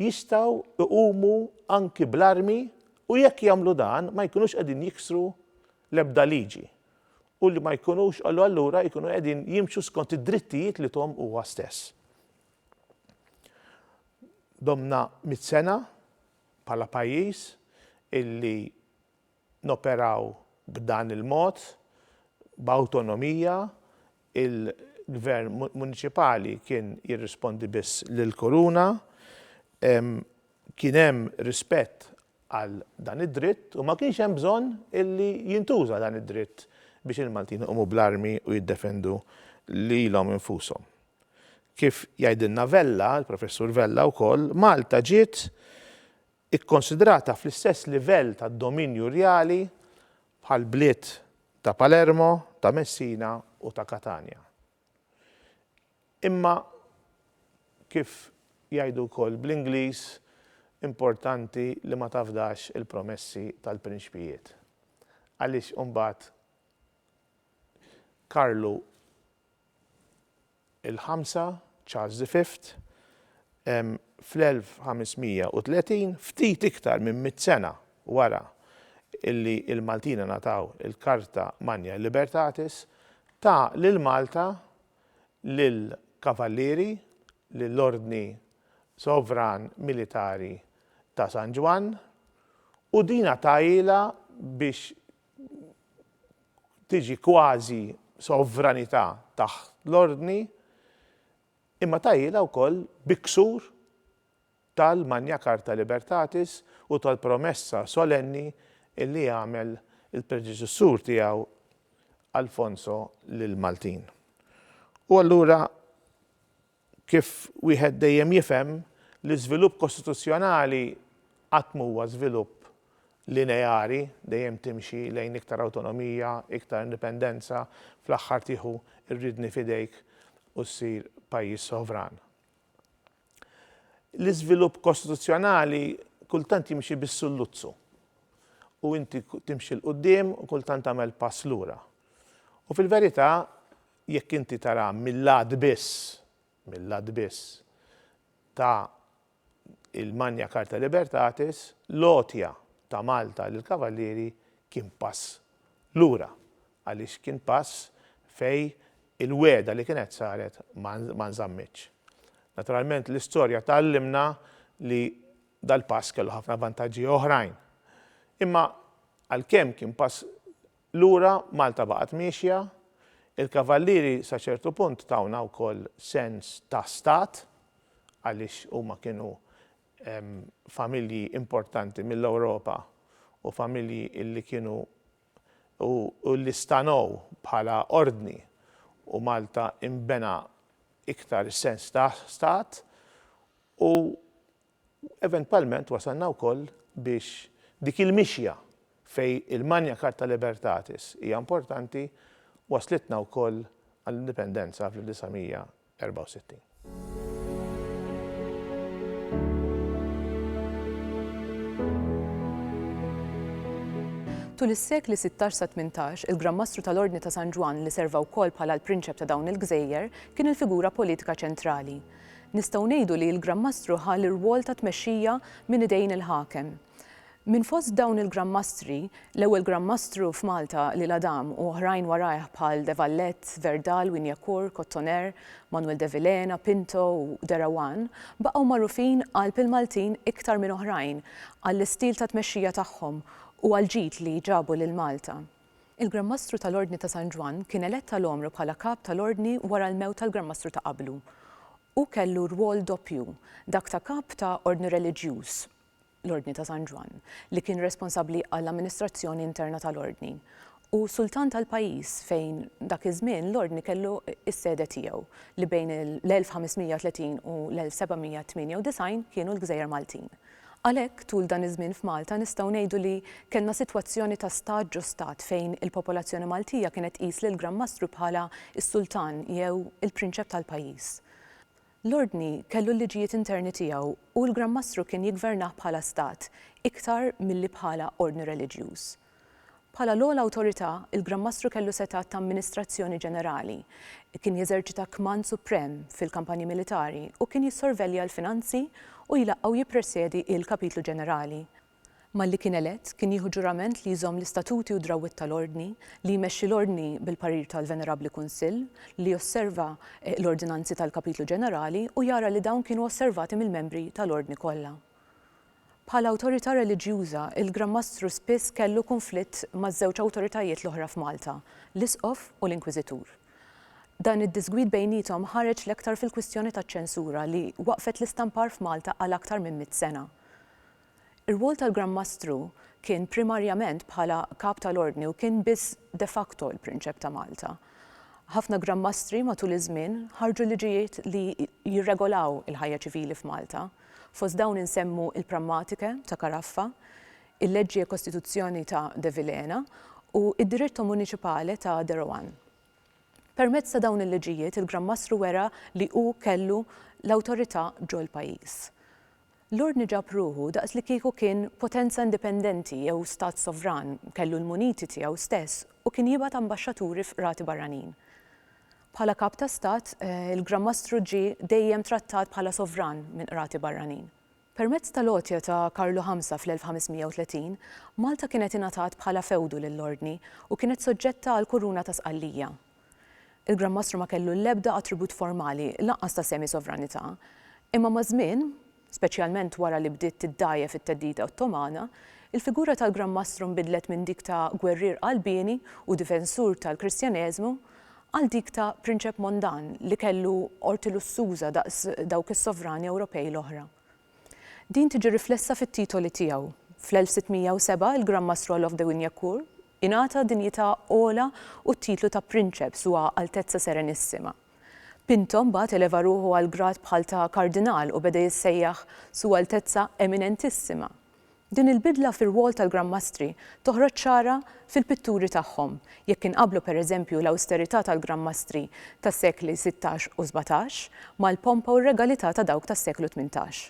jistgħu jqumu anki bl-armi u jekk jagħmlu dan ma jkunux qegħdin jiksru l-ebda liġi u li ma jkunux u allura jkunu qegħdin jimxu skont id-drittijiet li thom huwa stess. Domna mitt sena bħala pajjiż illi noperaw b'dan il-mod, b'awtonomija, il-Gvern Muniċipali kien jirrispondi biss lill-Kuruna, kien hemm rispett għal dan id-dritt u ma kienx hemm bżonn illi jintuża dan id-dritt biex il-Maltin iqumu bl-armi u jiddefendu lilhom infushom. Kif jgħidilna Vella, il-Professur Vella wkoll, Malta ġiet ikkonsidrata fl-istess livell ta' dominju rjali bħall-bliet ta' Palermo, ta' Messina u ta' Katanja. Imma kif jgħidu wkoll bl-Ingliż, importanti li ma tafdax il-promessi tal-prinċpijiet. Għaliex imbagħad Karlu. il-ħamsa, Charles the Fifth, fl-1530, ftit iktar minn mitt sena wara li l-Maltin ingħataw il-Carta Magna Libertatis, ta lil Malta lill-Kavallieri, lill-Ordni Sovran Militari ta' San Ġwann, u din għatahilha biex tiġi kważi sovranità taħt l-Ordni, imma tgħajjilha wkoll bi ksur tal-Magna Charta Libertatis u tal-promessa solenni li għamel il-predeċessur tiegħu Alfonso lill-Maltin. U allura, Kif wieħed dejjem jifhem, l-iżvilupp kostituzzjonali qatt m'huwa żvilupp lineari, dejjem timxi lejn iktar awtonomija, iktar indipendenza, fl-aħħar tieħu r-riedni f'idejk u ssir pajjiż sovran. L-iżvilupp kostituzzjonali kultant jimxi bis-sulluzzu u inti timxi 'l quddiem u kultant tagħmel pass lura. U fil-verità, jekk inti taraha mil-lat biss, mil-lat biss, ta' il-Magna Charta Libertatis, l-għotja ta' Malta lill-Kavallieri kien pass lura, għaliex kien pass fejn il-wegħda li kienet saret ma nżammitx. Naturalment l-istorja tgħallimna li dal-pass kellu ħafna vantaġġi oħrajn. Imma għalkemm kien pass Lura Malta baqgħet miexja. Il-Kavallieri sa ċertu punt tawna wkoll sens ta' stat għaliex huma kienu familji importanti mill-Ewropa u familji illi kienu u illi stanow bħala ordni u Malta inbena iktar is-sens ta' stat u U eventwalment wasalna wkoll biex dik il-mixja fejn il-Magna Charta Libertatis hija importanti wasslitna wkoll għall-Indipendenza fl-1964. Tul is-sekli sittax sa tmintax, il-Gran Mastru tal-Ordni ta' San Ġwann li serva wkoll bħala l-Prinċep ta' dawn il-gżejjer, kien il-figura politika ċentrali. Nistgħu ngħidu li l-Gran Mastru ħa l-irwol ta' tmexxija minn idejn il-ħakem. Minn fost dawn il-Gran Mastri, l-ewwel Gran Mastru f'Malta li l-Għadam u oħrajn warajh bħal De Valette, Verdal, Wignacourt, Cottoner, Manuel de Vilhena, Pinto u De Rawan baqgħu magħrufin qalb il-Maltin iktar minn oħrajn għall-istil ta' tmexxija tagħhom u għall-ġid li ġabu lil Malta. Il-Gran Mastru tal-Ordni ta' San Ġwann kien elett għal għomru bħala Kap tal-Ordni wara l-mewt tal-Gran Mastru ta' qablu. Hu kellu rwol doppju, dak ta' Kap ta' Ordni Reliġjuż, l-Ordni ta' San Ġwann, li kien responsabbli għall-amministrazzjoni interna tal-Ordni, u Sultan tal-pajjiż fejn dak iż-żmien l-Ordni kellu s-sede tiegħu, li bejn l-1530 u l-1798 kienu l-Gżejjer Maltin. Għalhekk, tul dan iż-żmien f'Malta nistgħu ngħidu li kellna sitwazzjoni ta' stat ġo stat fejn il-popolazzjoni Maltija kienet tqis lill-Gran Mastru bħala s-sultan jew il-prinċep tal-pajjiż. L-Ordni kellu l-liġijiet interni tiegħu u l-Gran Mastru kien jiggvernah bħala stat iktar milli bħala ordni reliġjuż. Bħala l-ogħla awtorità, il-Gran Mastru kellu setgħat ta' amministrazzjoni ġenerali, kien jeżerċita kmand suprem fil-kampanji militari u kien jissorvelja l-finanzi u jlaqqa' u jippresjedi il-Kapitlu Ġenerali. Malli kien elett, kien jieħu ġurament li jżomm l-istatuti u d-drawwiet tal-Ordni, li jmexxi l-Ordni bil-parir tal-Venerabbli Kunsill, li josserva l-ordinanzi tal-Kapitlu Ġenerali u jara li dawn kienu osservati mill-membri tal-Ordni kollha. Bħala awtorità reliġjuża, il-Gran Mastru spiss kellu kunflitt maż-żewġ awtoritajiet l-oħra f'Malta, l-Isqof u l-Inkwiżitur. Dan id-diżgwid bejniethom ħareġ l-aktar fil-kwistjoni taċ-ċensura li waqqfet l-istampar f'Malta għal aktar minn mitt sena. Ir-rwol tal-Gran Mastru kien primarjament bħala Kap tal-Ordni u kien biss de facto il-Prinċep ta' Malta. Ħafna Gran Mastri matul iż-żmien ħarġu liġijiet li jirregolaw il-ħajja ċivili f'Malta. Fost dawn insemmu il-Prammatiche ta' Caraffa, il-Leggi e Costituzioni ta' De Vilhena u id-Diritto Municipale ta' De Rohan. Permezz ta' dawn il-liġijiet il-Gran Mastru wera li hu kellu l-awtorità ġol-pajjiż. L-Ordni ġab ruħu daqs li kieku kien potenza indipendenti jew stat sovran, kellu l-muniti tiegħu stess u kien jibgħat ambaxxaturi f'qrati barranin. Bħala Kap ta' Stat, il-Gran Mastru ġie dejjem trattat bħala sovran minn qrati barranin. Permezz tal-għotja ta' Karlu Ħamsa fl-1530, Malta kienet ingħatat bħala fewdu lill-Ordni u kienet soġġetta għall-Kuruna ta' Sqallija. Il-Gran Mastru ma kellu l-ebda attribut formali, lanqas ta' semi-sovranità, imma maż-żmien, Speċjalment wara li bdiet tiddgħajjef it-theddida Ottomana, il-figura tal-Gran Mastru nbidlet minn dik ta' gwerrier qalbieni u difensur tal-Kristjaneżmu għal dik ta' prinċep mondan li kellu qorti lussuża daqs dawk is-sovrani Ewropej l-oħra. Din tiġi riflessa fit-titoli tiegħu. Fl-1607 il-Gran Mastru Olof de Wignacourt ingħata dinjità ogħla u t-titlu ta' prinċep, Sua Altezza Serenissima. Pinto mbagħad eleva ruħu għal grad bħal ta' Kardinal u beda jissejjaħ Su Altezza Eminentissima. Din il-bidla fir-rwol tal-Gran Mastri toħroġ ċara fil-pitturi tagħhom, jekk inqabblu pereżempju l-awsterità tal-Gran Mastri tas-sekli sittax u sbatax mal-pompa u r-regalità ta' dawk tas-seklu tmintax.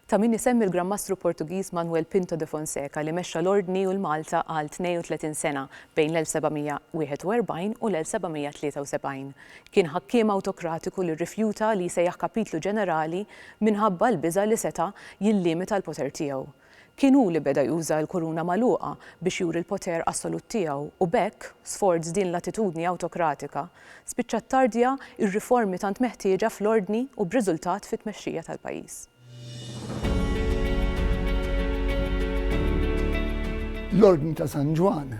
Ta' min isemmi l-Gran Mastru Portugiż Manuel Pinto de Fonseca li mexxa l-Ordni u 'l Malta għal 32 sena bejn l-1741 u l-1773. Kien ħakkiem awtokratiku li rrifjuta li jsejjaħ kapitlu ġenerali minħabba l-biża' li seta' jillimita l-poter tiegħu. Kien hu li beda juża l-kuruna magħluqa biex juri l-poter assolut tiegħu u b'hekk, sforz din l-attitudni awtokratika, spiċċa ttardja r-riformi tant meħtieġa fl-ordni u b'riżultat fit-tmexxija tal-pajjiż. L-Ordni ta' San Ġwann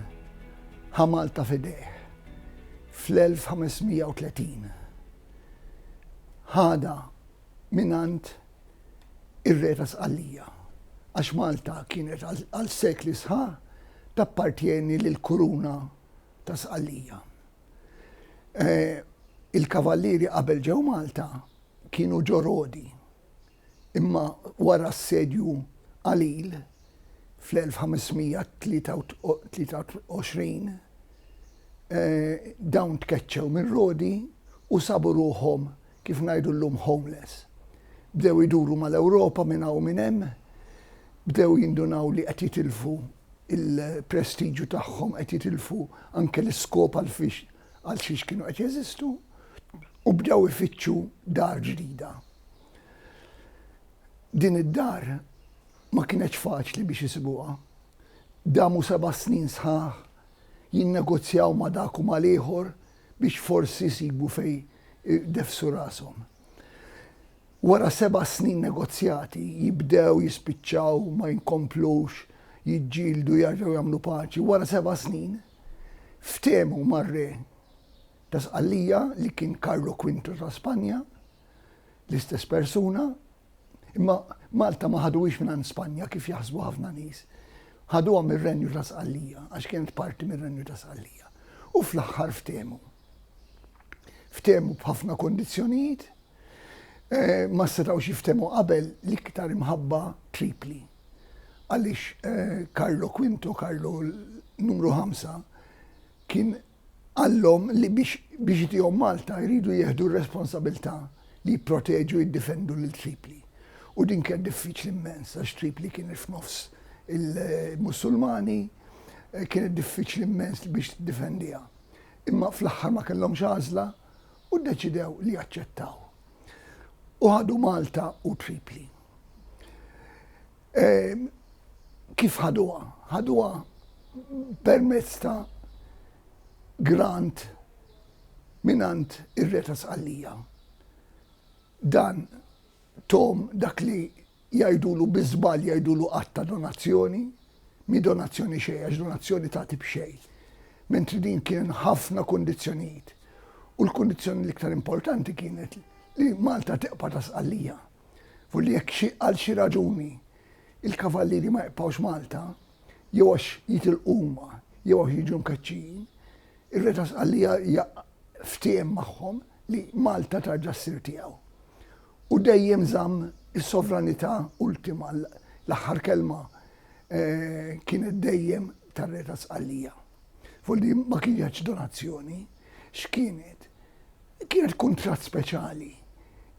ħa Malta f'idejh fl-1530. Ħadha mingħand ir-Re ta' Sqallija, għax Malta kienet għal sekli sħaħ tappartjeni lill-Kuruna ta' Sqallija. Il-Kavallieri qabel ġew Malta kienu ġo Rodi, imma wara s-Sedju Qalil fl-1523 dawn tkeċċew minn Rodi u sabu ruħhom kif ngħidu llum homeless, bdew iduru mal-Ewropa minn hawn u minn hemm, bdew jindunaw li qed jitilfu l-prestiġju tagħhom, qed jitilfu anke l-iskop għal xiex kienu qed jeżistu u bdew ifittxu dar ġdida. Din id-dar ma kienetx faċli biex isibuha. Damu seba' snin sħaħ jinnegozjaw ma' dak u mal-ieħor biex forsi jsibu fejn ideffsu rashom. Wara seba' snin negozjati jibdew jispiċċaw ma jinkomplux jiġġieldu jerġgħu jagħmlu paċi. Wara seba' snin ftehmu mar-Re ta' Sqallija li kien Karlo Kwinto ta' Spanja, l-istess persuna, Imma Malta ma ħaduhiex minn Spanja kif jaħsbu ħafna nies. Ħaduha mir-Renju ta' Sqallija għax kienet parti mir-Renju ta' Sqallija. U fl-aħħar ftehmu. Ftehmu b'ħafna kondizzjonijiet eh, ma setgħu jiftehmu qabel l-iktar imħabba tripli. Għaliex eh, Carlo Quinto, Carlo numru 5, kien Qalhom li biex biex itihom Malta jridu jieħdu r-responsabilità li jipproteġu jiddifendu lil Tripli. U din kienet diffiċli mmens għax Tripli kienet f'nofs il-Mussulmani, kienet diffiċli mmens biex tiddifendiha. Imma fl-aħħar ma kellhomx għażla u ddeċidew li jaċċettaw. U ħadu Malta u Tripli. Kif ħaduha? Ħaduha permezz ta' grant mingħand ir-Re ta' Sqallija. Dan Tom dak li jgħidulu bi żball jgħidulu att ta' donazzjoni, mhi donazzjoni xejn għax donazzjoni tagħti b'xejn. Mentri din kien ħafna kundizzjonijiet u l-kundizzjoni l-iktar importanti kienet li Malta tibqa' ta' Sqallija. Fu li jekk xi għal xi raġuni il-Kavallieri ma jibqgħux Malta, jew għax jitilqu huma jew għax jiġu mkeċċijin, ir-Re ta' Sqallija ftiehem magħhom li Malta terġa' ssir tiegħu. U dejjem żamm is-sovranità ultima, l-aħħar kelma kienet dejjem tar-Re ta' Sqallija. fuq li ma kienetx donazzjoni, x'kienet? Kienet kuntratt speċjali,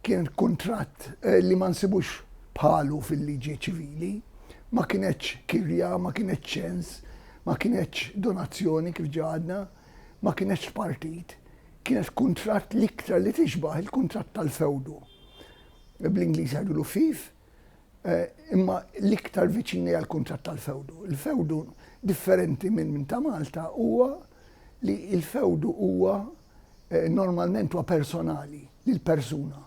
kien kuntratt eh, li ma nsibux bħalu fil-liġi ċivili, ma kienetx kirja, ma kienetx ċens, ma kienetx donazzjoni kif ġadna, ma kienetx partit, kienet kuntratt l-iktar li tixbaħ il-kuntratt tal-fewdu. Bl-Ingliż għadu l-fif, imma l-iktar viċini għall-kunċett tal-fewdu. Il-fewdu differenti minn minn ta' Malta huwa li l-fewdu huwa eh, normalment huwa personali lil persuna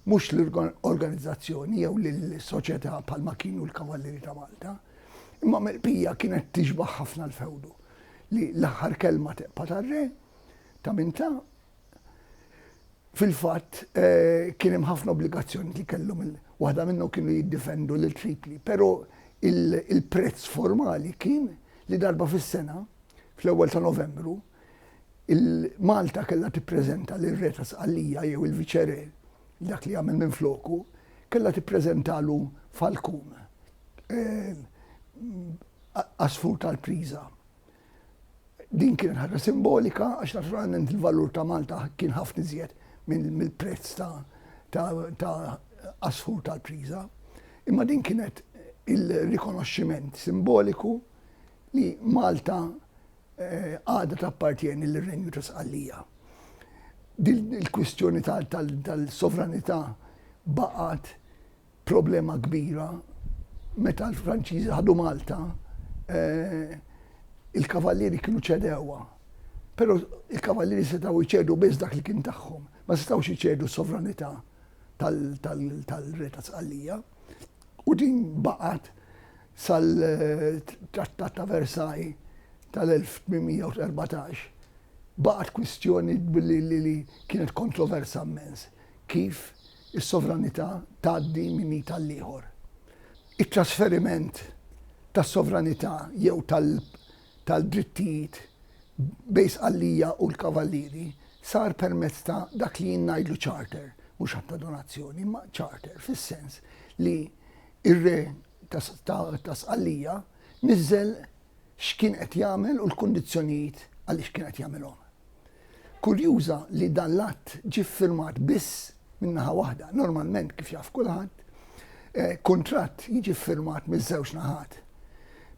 mhux l-organizzazzjoni jew lill-soċjetà bħalma kienu l-Kavallieri ta' Malta. Imma mill-pija kienet tixbaħ ħafna l-fewdu li l-aħħar kelma teqpa tar-re ta' minta Fil-fatt, kien hemm ħafna obbligazzjonijiet li kellhom il-, waħda minnhom kienu jiddifendu lil Tripli, però il-prezz formali kien li darba fis-sena, fl-ewwel ta' Novembru, il-Malta kellha tippreżenta lir-Re ta' Sqallija jew il-Viċe-Re, dak li jagħmel minfloku, kellha tippreżentalu falkun, għasfur tal-priża. Din kienet ħaġa simbolika għax naturalment il-valur ta' Malta kien ħafna iżjed mill-prezz ta' għasfur tal-priża. Imma din kienet il-rikonoxximent simboliku li Malta eh, għadha tappartjeni lir-Renju ta' Sqallija. Din il-kwistjoni tal-sovranità baqgħet problema kbira meta l-Franċiżi ħadu Malta il-Kavallieri kienu ċedewha. Però il-Kavallieri setgħu jċedu biss dak li kien tagħhom, ma setgħux iċedu s-sovranità tal-Re ta' Sqallija. U din baqgħet sal-Trattat ta' Versailles tal-1814. Baqgħet kwistjoni li kienet kontroversa mmens kif Is-sovranità tgħaddi minn id għall-ieħor. It-trasferiment tas-sovranità jew tal-drittijiet bejn Sqallija u l-Kavallieri sar permezz ta' dak li jien ngħidlu charter, mhux att ta' donazzjoni, imma charter fis-sens li r-Re ta' Sqallija niżżel x'kien qed jagħmel u l-kundizzjonijiet għaliex kien qed jagħmilhom. Kurjuża li dan l-att ġie ffirmat biss minn naħa waħda. Normalment, kif jaf kulħadd, kuntratt jiġi ffirmat miż-żewġ naħat.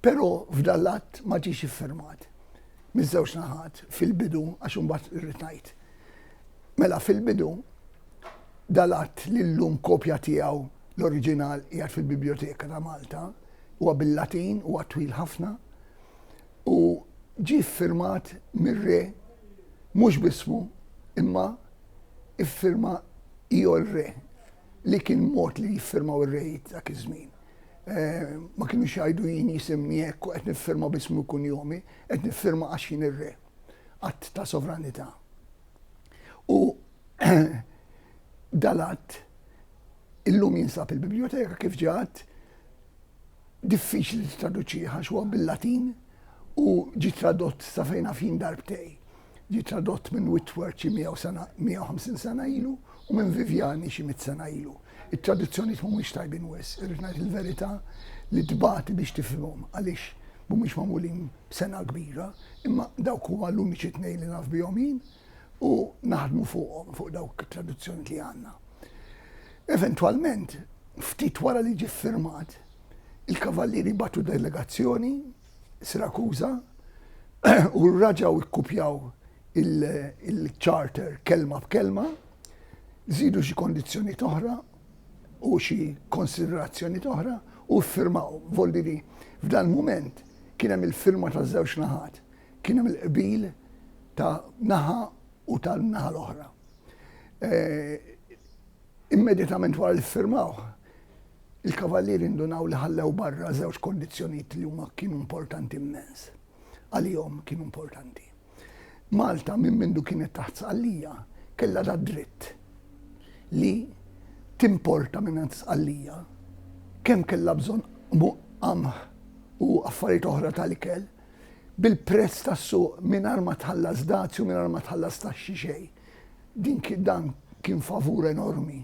Però f'dan l-att ma ġiex iffirmat miż-żewġ naħat fil-bidu għax imbagħad irrid ngħid. Mela fil-bidu dal-att li llum kopja tiegħu l-oriġinal qiegħed fil-Bibljoteka ta' Malta huwa bil-Latin, huwa twil ħafna. u ġie ffirmat mir-Re mhux b'ismu imma iffirma Io il Re li kien mod li jiffirmaw ir-rejiet dak iż-żmien. Ma kinux jgħidu jien jisimni hekk u qed niffirma b'ismi u kunjomi, qed niffirma għax jien ir-Re. Att ta' sovranità. U dal-att illum jinsab il-bibljoteka kif ġie għadd diffiċli li tittraduċih għax huwa bil-Latin u ġie tradott sa fejn naf jien darbtej. Ġie tradott minn Whitworth xi 150 sena ilu u minn Viviani xi mitt sena ilu. It-traduzzjonijiet mhumiex tajbin wis, irrid ngħid il-verità li tbati biex tifhimhom għaliex mhumiex magħmulin b'sengħa kbira, imma dawk huma l-uniċi tnejn li naf bihom jien. u naħdmu fuqhom, fuq dawk it-traduzzjoni li għandna. Eventwalment, ftit wara li ġie firmat, il-kavallieri batu delegazzjoni Sirakuża u raġaw ikkupjaw il-charter kelma b'kelma, zidu xi kondizzjoni toħra u xi konsiderazzjoni toħra u firmaw. Volli li f'dan moment kien hemm il-firma ta' żewġ naħat. Kien hemm il-qbil ta' naħa u tan-naħa l-oħra. Immedjatament wara li ffirmawh, il-kavallieri ndunaw li ħallew barra żewġ kondizzjonijiet li huma kienu importanti immens. Għalihom kienu importanti. Malta minn mindu kienet taħt Sqallija kellha da dritt li timporta mingħand Sqallija kemm kellha bżonn qamħ u affarijiet oħra tal-ikel, bil-prezz tas-suq mingħajr ma tħallas dazju, mingħajr ma tħallas taxxi xejn. Din dan kien favur enormi.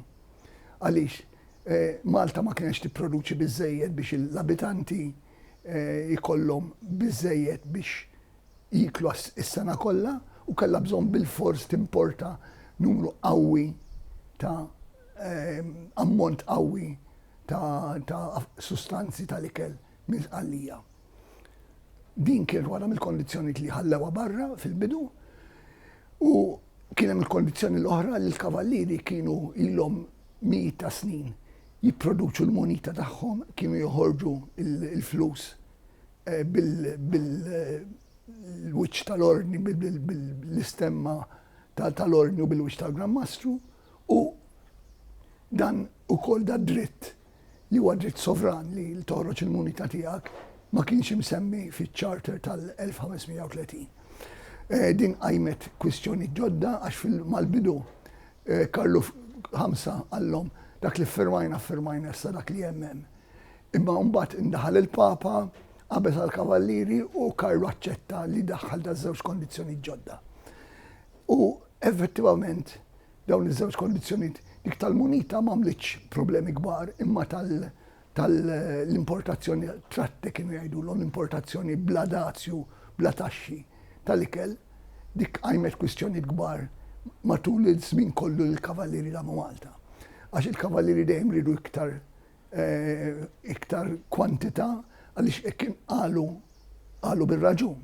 Għaliex eh, Malta ma kienx tipproduċi biżejjed biex l-abitanti eh, ikollhom biżejjed biex jiklu s-sena kollha u kellha bżonn bil-fors timporta numru qawwi ta' eh, ammont qawwi ta' sustanzi tal-ikel minn Sqallija. Din kienet waħda mill-kondizzjonijiet li ħallewha barra fil-bidu u kien hemm il-kondizzjoni l-oħra li l-kavallieri kienu ilhom mijiet ta' snin jipproduċu l-munita tagħhom, kienu joħorġu l-flus eh, bil-wiċċ tal-ordni, bil-istemma tal-ordni u bil-wiċċ tal-Gran Mastru u dan ukoll da dritt li huwa dritt sovran li toħroġ il-munita tiegħek, ma kienx imsemmi fiċ-Charter tal-1530. Eh, din qajmet kwistjoni ġodda għax mal-bidu eh, Karlu ħamsa għallhom dak li firmajna firmajna issa dak li jemmen. Imma mbagħad indaħal il-Papa qabeż għal kavallieri u Karlu aċċetta li daħħal da żewġ kondizzjoni ġodda. U effettivament Dawn iż-żewġ kondizzjonijiet, dik tal-munita m'għamlitx problemi kbar imma tal-importazzjoni, tratte kienu jgħidulhom, l-importazzjoni bla dazju, bla taxxi tal-ikel, dik qajmet kwistjonijiet kbar matul iż-żmien kollu li l-Kavallieri damu Malta. Għax il-Kavallieri dejjem riedu iktar iktar kwantità għaliex hekk kien qalu qalu bir-raġun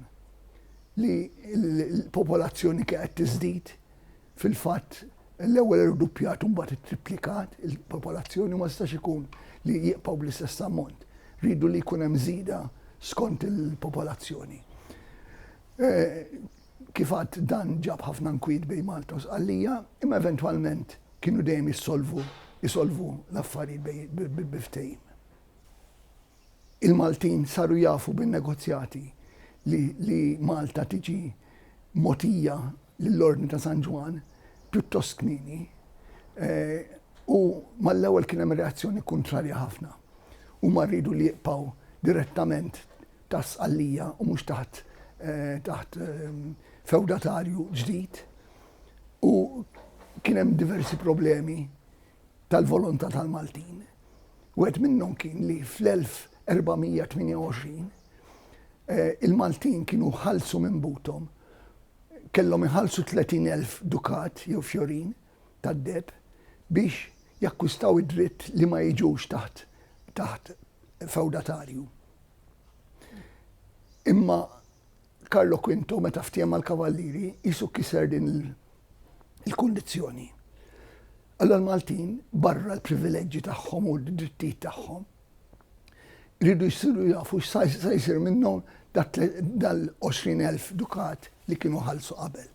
li l-popolazzjoni kienet tiżdied Fil-fatt, l-ewwel irduppjat u mbagħad ittriplikat il-popolazzjoni u ma jistax ikun li jibqgħu bl-istess ammont. Riedu li jkun hemm żieda skont il-popolazzjoni. Kif għadt dan ġab ħafna nkwiet bejn Malta u Sqallija, imma eventwalment kienu dejjem jissolvu isolvu l-affarijiet bejn bi ftehim. Il-Maltin saru jafu bin-negozjati li li Malta tiġi mogħtija lill-Ordni ta' San Ġwann pjuttost kmieni u mal-ewwel kien hemm reazzjoni kuntrarja ħafna. Huma riedu li jibqgħu direttament taħt Sqallija u mhux taħt taħt fewdatarju ġdid u kien hemm diversi problemi tal-volontà tal-Maltin. Wieħed minnhom kien li fl-1428 il-Maltin kienu ħallsu minn buthom kellhom iħallsu tletin elf dukat jew fjorin tad-deheb biex jakkwistaw id-dritt li ma jiġux taħt taħt fewdatarju. Imma Carlo Quinto meta ftiehem mal-Kavallieri qisu kiser din il-kundizzjoni. Allura l-Maltin barra l-privileġġi tagħhom u d-drittijiet tagħhom Iridu jsiru jafu x'sa jsir minnhom dal-20,000 dukat li kienu ħallsu qabel.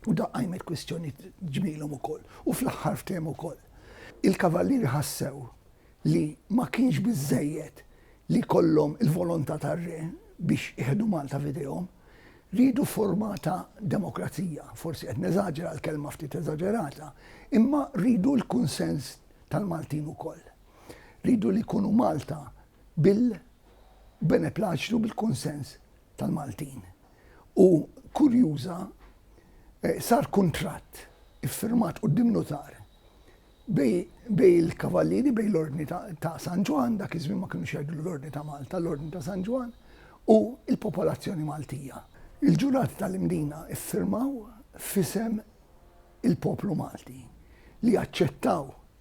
U dan qajmet kwistjonijiet ġmielhom ukoll. U fl-aħħar ftehmu wkoll. Il-Kavallieri ħassew li ma kienx biżżejjed li jkollhom il-volontà tar-Re biex iħdu Malta f'idejhom. Riedu forma ta' demokrazija, forsi qed neżaġera, l-kelma ftit eżaġerata, imma riedu l-kunsens tal-Maltin ukoll. li jridu li jkunu Malta bil-beneplaċtu u bil-kunsens tal-Maltin. U kurjuża eh, sar kuntratt iffirmat quddiem notar bej il-kavallieri bej l-ordni ta' San Ġwan, dak iż-żmien ma kienu xejdu l-ordni ta' Malta, l-ordni ta' San Ġwan, u il-popolazzjoni Maltija. Il-ġurati tal-imdina iffirmaw fisem il-poplu Malti li jaċċettaw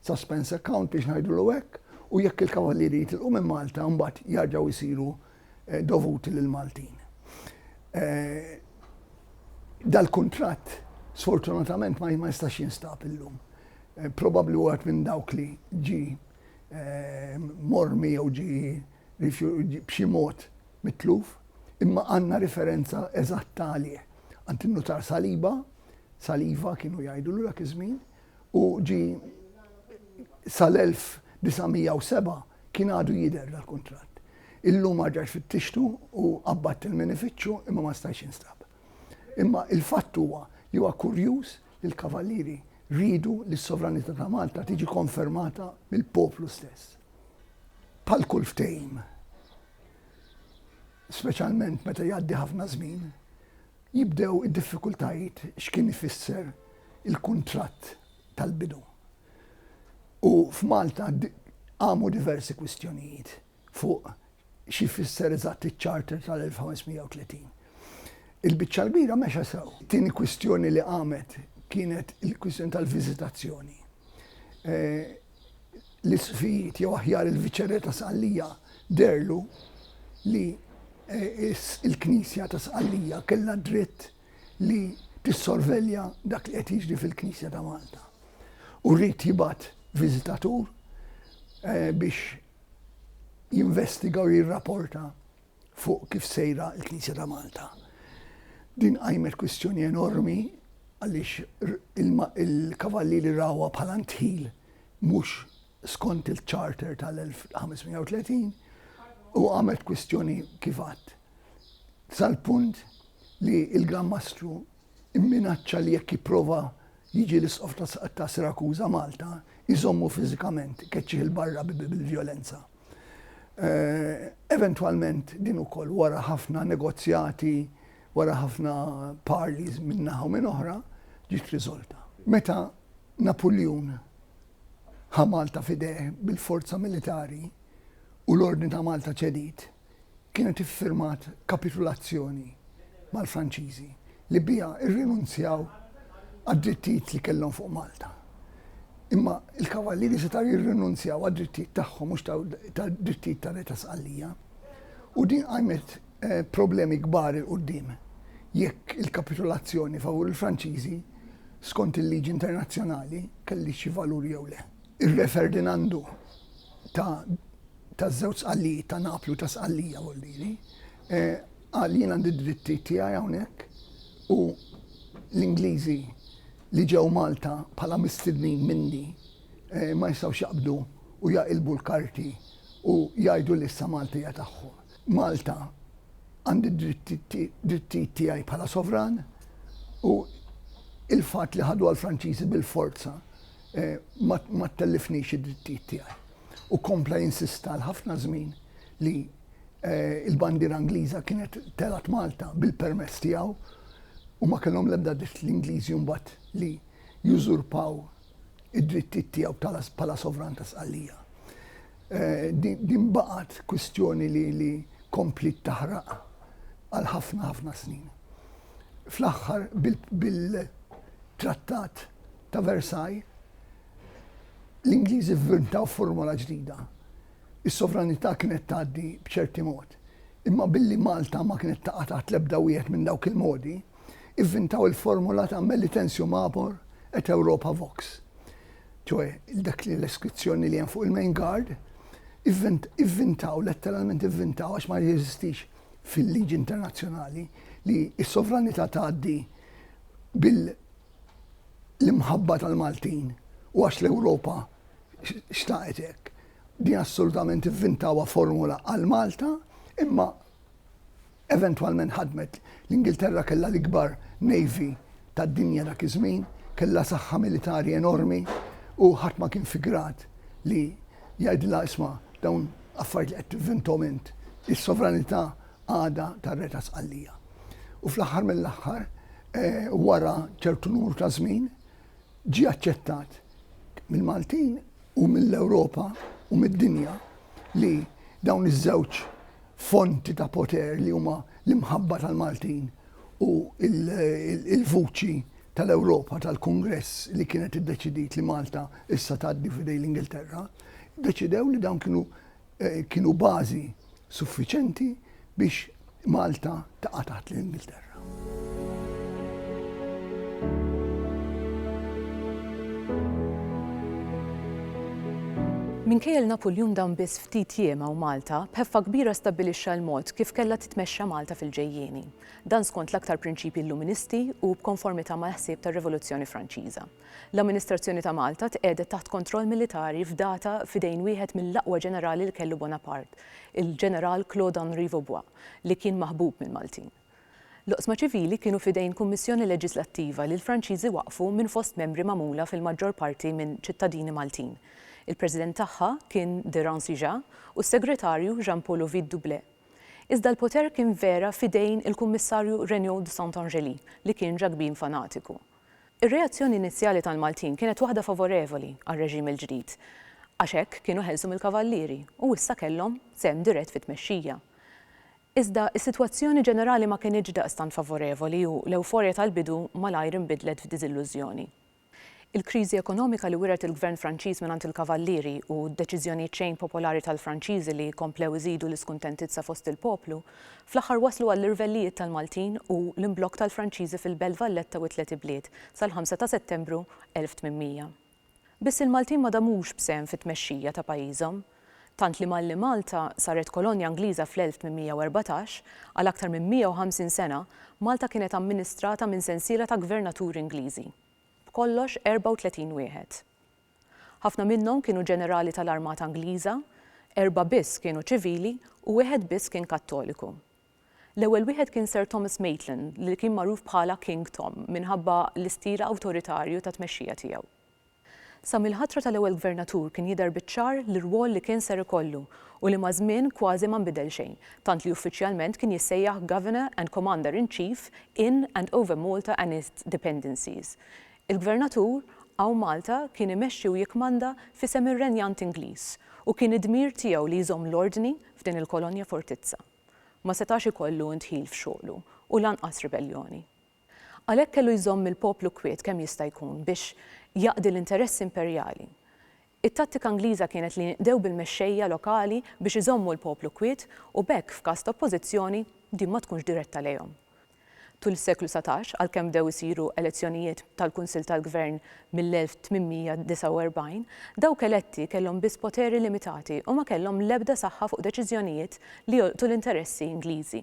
suspense account biex ngħidulu hekk, u jekk il-Kavallieri jitilqu minn Malta mbagħad jarġgħu jsiru dovuti lill-Maltin. Dal-kuntratt sfortunatament ma jistax jinstab illum. Probabbli wieħed minn dawk li ġi mormi jew ġi b'xi mod mitluf, imma għandna riferenza eżatta għalih għand in-nutar Saliba, Saliva kienu jgħidulu dak iż-żmien, u ġie sal-1907 kien għadu jidher dal-kuntratt. Illum arġajt fittixtu u qabbadt il-minifiċċju imma ma stajtx jinstab. Imma il-fatt huwa li huwa kurjuż li l-Kavallieri riedu li s-sovranità ta' Malta tiġi konfermata mill-poplu stess. Bħal kull ftehim, speċjalment meta jgħaddi ħafna żmien, Jibdew id-diffikultajiet x'kien ifisser il-kuntratt tal-bidu. U f'Malta qamu diversi kwistjonijiet fuq xi jfisser eżatt iċ-Charter tal-1530. Il-biċċa l-kbira mexa sew. It-tieni kwistjoni li qamet kienet il-kwistjoni tal-viżitazzjoni. l-isfid jew aħjar il-viċerè ta' Sqallija deherlu li l-Knisja ta' Sqallija kellha d-dritt li tissorvelja dak li qed jiġri fil-Knisja ta' Malta. U ried jibgħat viżitatur biex jinvestiga u jirraporta. fuq kif sejra l-Knisja ta' Malta. Din qajmet kwistjoni enormi għaliex il-Kavallieri rawha bħala ndħil mhux skont il-Charter tal-1530 u għamlet kwistjoni kif għadd. Sal-punt li l-Gran Mastru Imminaċċa li jekk jipprova jiġi l-Isqof ta' Sirakuża Malta, jżommu fiżikament, ikeċċih 'il barra bil-vjolenza. Eventwalment din ukoll wara ħafna negozjati, wara ħafna parleys minn naħa u minn oħra, ġiet riżolta. Meta Napuljun ħa Malta f'idejh bil-forza militari u l-Ordni ta' Malta ċediet, kienet iffirmat kapitulazzjoni mal-Franċiżi li biha rrinunzjaw għad-drittijiet li kellhom fuq Malta. Imma il-kavallieri setgħu jirrinunzjaw għad-drittijiet tagħhom mhux tad-drittijiet ta' Re ta' Sqallija. U din qajmet eh, problemi kbar il qudiem jekk il-kapitulazzjoni favur il-Franċiżi skont il-liġi internazzjonali kelli xi valur jew le. Ir-Re Ferdinandu ta' taż-żewġ Sqallijiet ta' Napli u ta' Sqallija Oldili, qal jien għandi d-drittijiet tiegħi hawnhekk u l-Ingliżi li ġew Malta bħala mistednin minni ma jistgħux jaqbdu u jaqilbu l-karti u jgħidu li issa Malta hija tagħhom. Malta għandi d-drittijiet tiegħi bħala sovran u l-fatt li ħaduha l-Franċiżi bil-forza ma ttellifnix id-drittijiet tiegħi. u kompla jinsista għal ħafna żmien li il-bandiera Ingliża kienet telgħet Malta bil-permess tiegħu u ma kellhom l-ebda dritt l-Ingliżi mbagħad li jużurpaw id-drittijiet tiegħu bħala sovran ta' Sqallija. Eh, din baqgħet kwistjoni li li komplit taħraq għal ħafna ħafna snin. Fl-aħħar bil-trattat ta' Versailles L-Ingliżi vvintaw formola ġdida. Is-sovranità kienet tgħaddi b'ċerti mod. Imma billi Malta ma kienet taqa' taħt l-ebda wieħed minn dawk il-modi, ivvintaw il-formola ta' Melitensium Mabor et Europa Vox. Ċoe, dak li l-iskrizzjoni li hemm fuq il-Main Guard, ivvintaw, letteralment ivvintaw, għax ma jeżistix fil-liġi internazzjonali li s-sovranità tgħaddi bil- l-imħabba tal-Maltin u għax l-Ewropa xtaqet hekk. Din assolutament ivvintawa formula għal Malta, imma eventwalment ħadmet. L-Ingilterra kellha l-ikbar navy tad-dinja dak iż-żmien, kellha saħħa militari enormi u ħadd ma kien fi grad li jgħidilha isma' dawn affarijiet li qed tivvintom int. Is-sovranità għada tar-Re ta' Sqallija. U fl-aħħar mill-aħħar, wara ċertu numru ta' żmien, ġie aċċettat mill-Maltin u mill-Ewropa u mid-dinja li dawn iż-żewġ fonti ta' poter li huma l-imħabba tal-Maltin u l-vuċi tal-Ewropa tal-Kungress li kienet iddeċidiet li Malta issa tgħaddi f'idejn l-Ingilterra, ddeċidew li dawn kienu kienu bażi suffiċenti biex Malta taqa' taħt l-Ingilterra. Minkejja Napoljun dan biss ftit jiema u Malta, b'ħeffa kbira stabbilixxa l-mod kif kellha titmexxa Malta fil-ġejjieni. Dan skont l-aktar prinċipji Illuministi u b'konformità mal-ħsieb tar-Rivoluzzjoni Franċiża. L-amministrazzjoni ta' Malta tqiegħdet taħt kontroll militari fdata f'idejn wieħed mill-aqwa ġenerali li kellu Bonaparte, il-Ġeneral Claude Henri Vaubois, li kien maħbub mill-Maltin. L-oqsma ċivili kienu f'idejn kummissjoni leġislattiva li l-Franċiżi waqqfu minn fost membri magħmula fil-maġġor parti minn ċittadini Maltin. Il-President tagħha kien de Rancijà u s-Segretarju Jean-Paul Ovide Doublet. Iżda l-poter kien vera f'idejn il-Kummissarju Regnault de Saint-Angelis, li kien ġakbin fanatiku. Ir-reazzjoni inizjali tal-Maltin kienet waħda favorevoli għar-reġim il-ġdid għax hekk kienu ħelsu mill-Kavallieri u issa kellhom sehem dirett fit-tmexxija. Iżda s-sitwazzjoni ġenerali ma kinitx daqstant favorevoli u l-ewforja tal-bidu malajr inbidlet f'diżillużjoni. Il-kriżi ekonomika li wiret il-Gvern Franċiż mingħand il-Kavallieri u d-deċiżjonijiet xejn popolari tal-Franċiżi li komplew iżidu l-iskuntentizza fost il-poplu, Fl-aħħar waslu għall-irvellijiet tal-Maltin u l-imblokk tal-Franċiżi fil-Belt Valletta u t-Tliet Ibliet sal-5 ta' Settembru 1800. Biss il-Maltin ma damux b'sehem fit-tmexxija ta' pajjiżhom. Tant li malli Malta saret kolonja Ingliża fl-1814, għal aktar minn 150 sena Malta kienet amministrata minn sensiela ta' gvernaturi Ingliżi. B'kollox 34 wieħed. Ħafna minnhom kienu ġenerali tal-armata Ingliża, erbgħa biss kienu ċivili u wieħed biss kien Kattoliku. L-ewwel wieħed kien Sir Thomas Maitland li kien magħruf bħala King Tom minħabba l-istil awtoritarju ta' tmexxija tiegħu. Sa mill-ħatra tal-ewwel Gvernatur kien jidher biċ-ċar l-irwol li kien ser ikollu u li maż-żmien kważi ma nbidel xejn, tant li uffiċjalment kien jissejjaħ Governor and Commander in Chief in and over Malta and its dependencies, Il-Gvernatur Għaw Malta kien imexxi u jikkmanda f'isem ir-renjant Ingliż u kien id-dmir tiegħu li jżomm l-ordni f'din il-kolonja fortizza. Ma setax ikollu ndħil f'xogħlu u lanqas ribelljoni. Għalhekk kellu jżomm il-poplu kwiet kemm jista' jkun biex jaqdi l-interessi imperjali. It-tattika Ingliża kienet li jinqdew bil-mexxejja lokali biex iżommu l-poplu kwiet u b'hekk f'każ ta' oppożizzjoni din ma tkunx diretta lejhom. Tul is-seklu satax, għalkemm bdew isiru elezzjonijiet tal-Kunsill tal-Gvern mill-1849, dawk eletti kellhom biss poteri limitati u ma kellhom l-ebda saħħa fuq deċiżjonijiet li jolqtu l-interessi Ingliżi.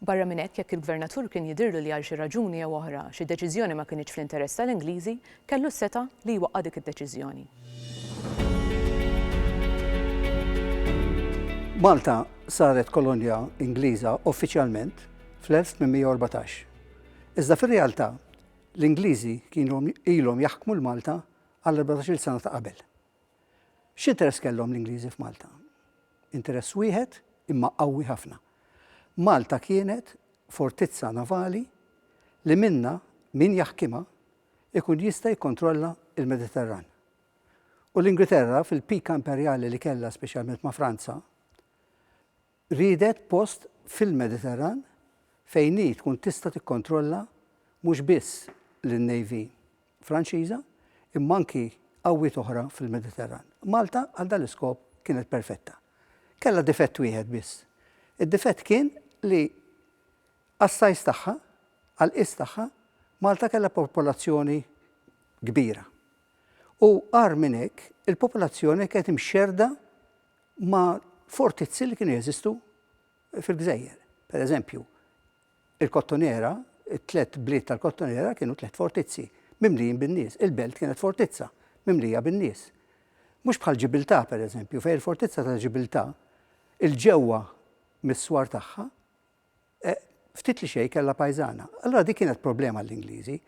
Barra minn hekk, jekk il-Gvernatur kien jidhirlu li għal xi raġuni jew oħra xi deċiżjoni ma kinitx fl-interess tal-Ingliżi, kellu s-setgħa li jwaqqa' dik id-deċiżjoni. Malta saret kolonja Ingliża uffiċjalment fl-1814. Iżda fir-realtà, l-Ingliżi kienu ilhom jaħkmu 'l Malta għall-erbatax-il sena ta' qabel. X'interess kellhom l-Ingliżi f'Malta? Interess wieħed, imma qawwi ħafna. Malta kienet fortizza navali li minnha min jaħkimha jkun jista' jikkontrolla l-Mediterran. U l-Ingriterra fil-pika imperjali li kellha speċjalment ma' Franza, Riedet post fil-Mediterran fejn hi tkun tista' tikkontrolla mhux biss lin-Navy Franċiża imma anki qawwiet oħra fil-Mediterran. Malta għal dan l-iskop kienet perfetta. Kellha difett wieħed biss. Id-difett kien li għas-size tagħha, għall-qies tagħha, Malta kellha popolazzjoni kbira. U agħar minn hekk, il-popolazzjoni kienet imxerrda ma' fortizzi li kienu jeżistu fil-gżejjer. Per eżempju, il-Kottonera, it-tliet bliet tal-Kottonera kienu tliet fortizzi mimlijin bin-nies. Il-Belt kienet fortizza mimlija bin-nies. Mhux bħal Ġibiltà, per eżempju, fejn il-fortizza ta' Ġibiltà, 'il ġewwa mis-swar tagħha, eh, ftit li xej kella pajzana. Allora dik kienet problema l-Ingliżi.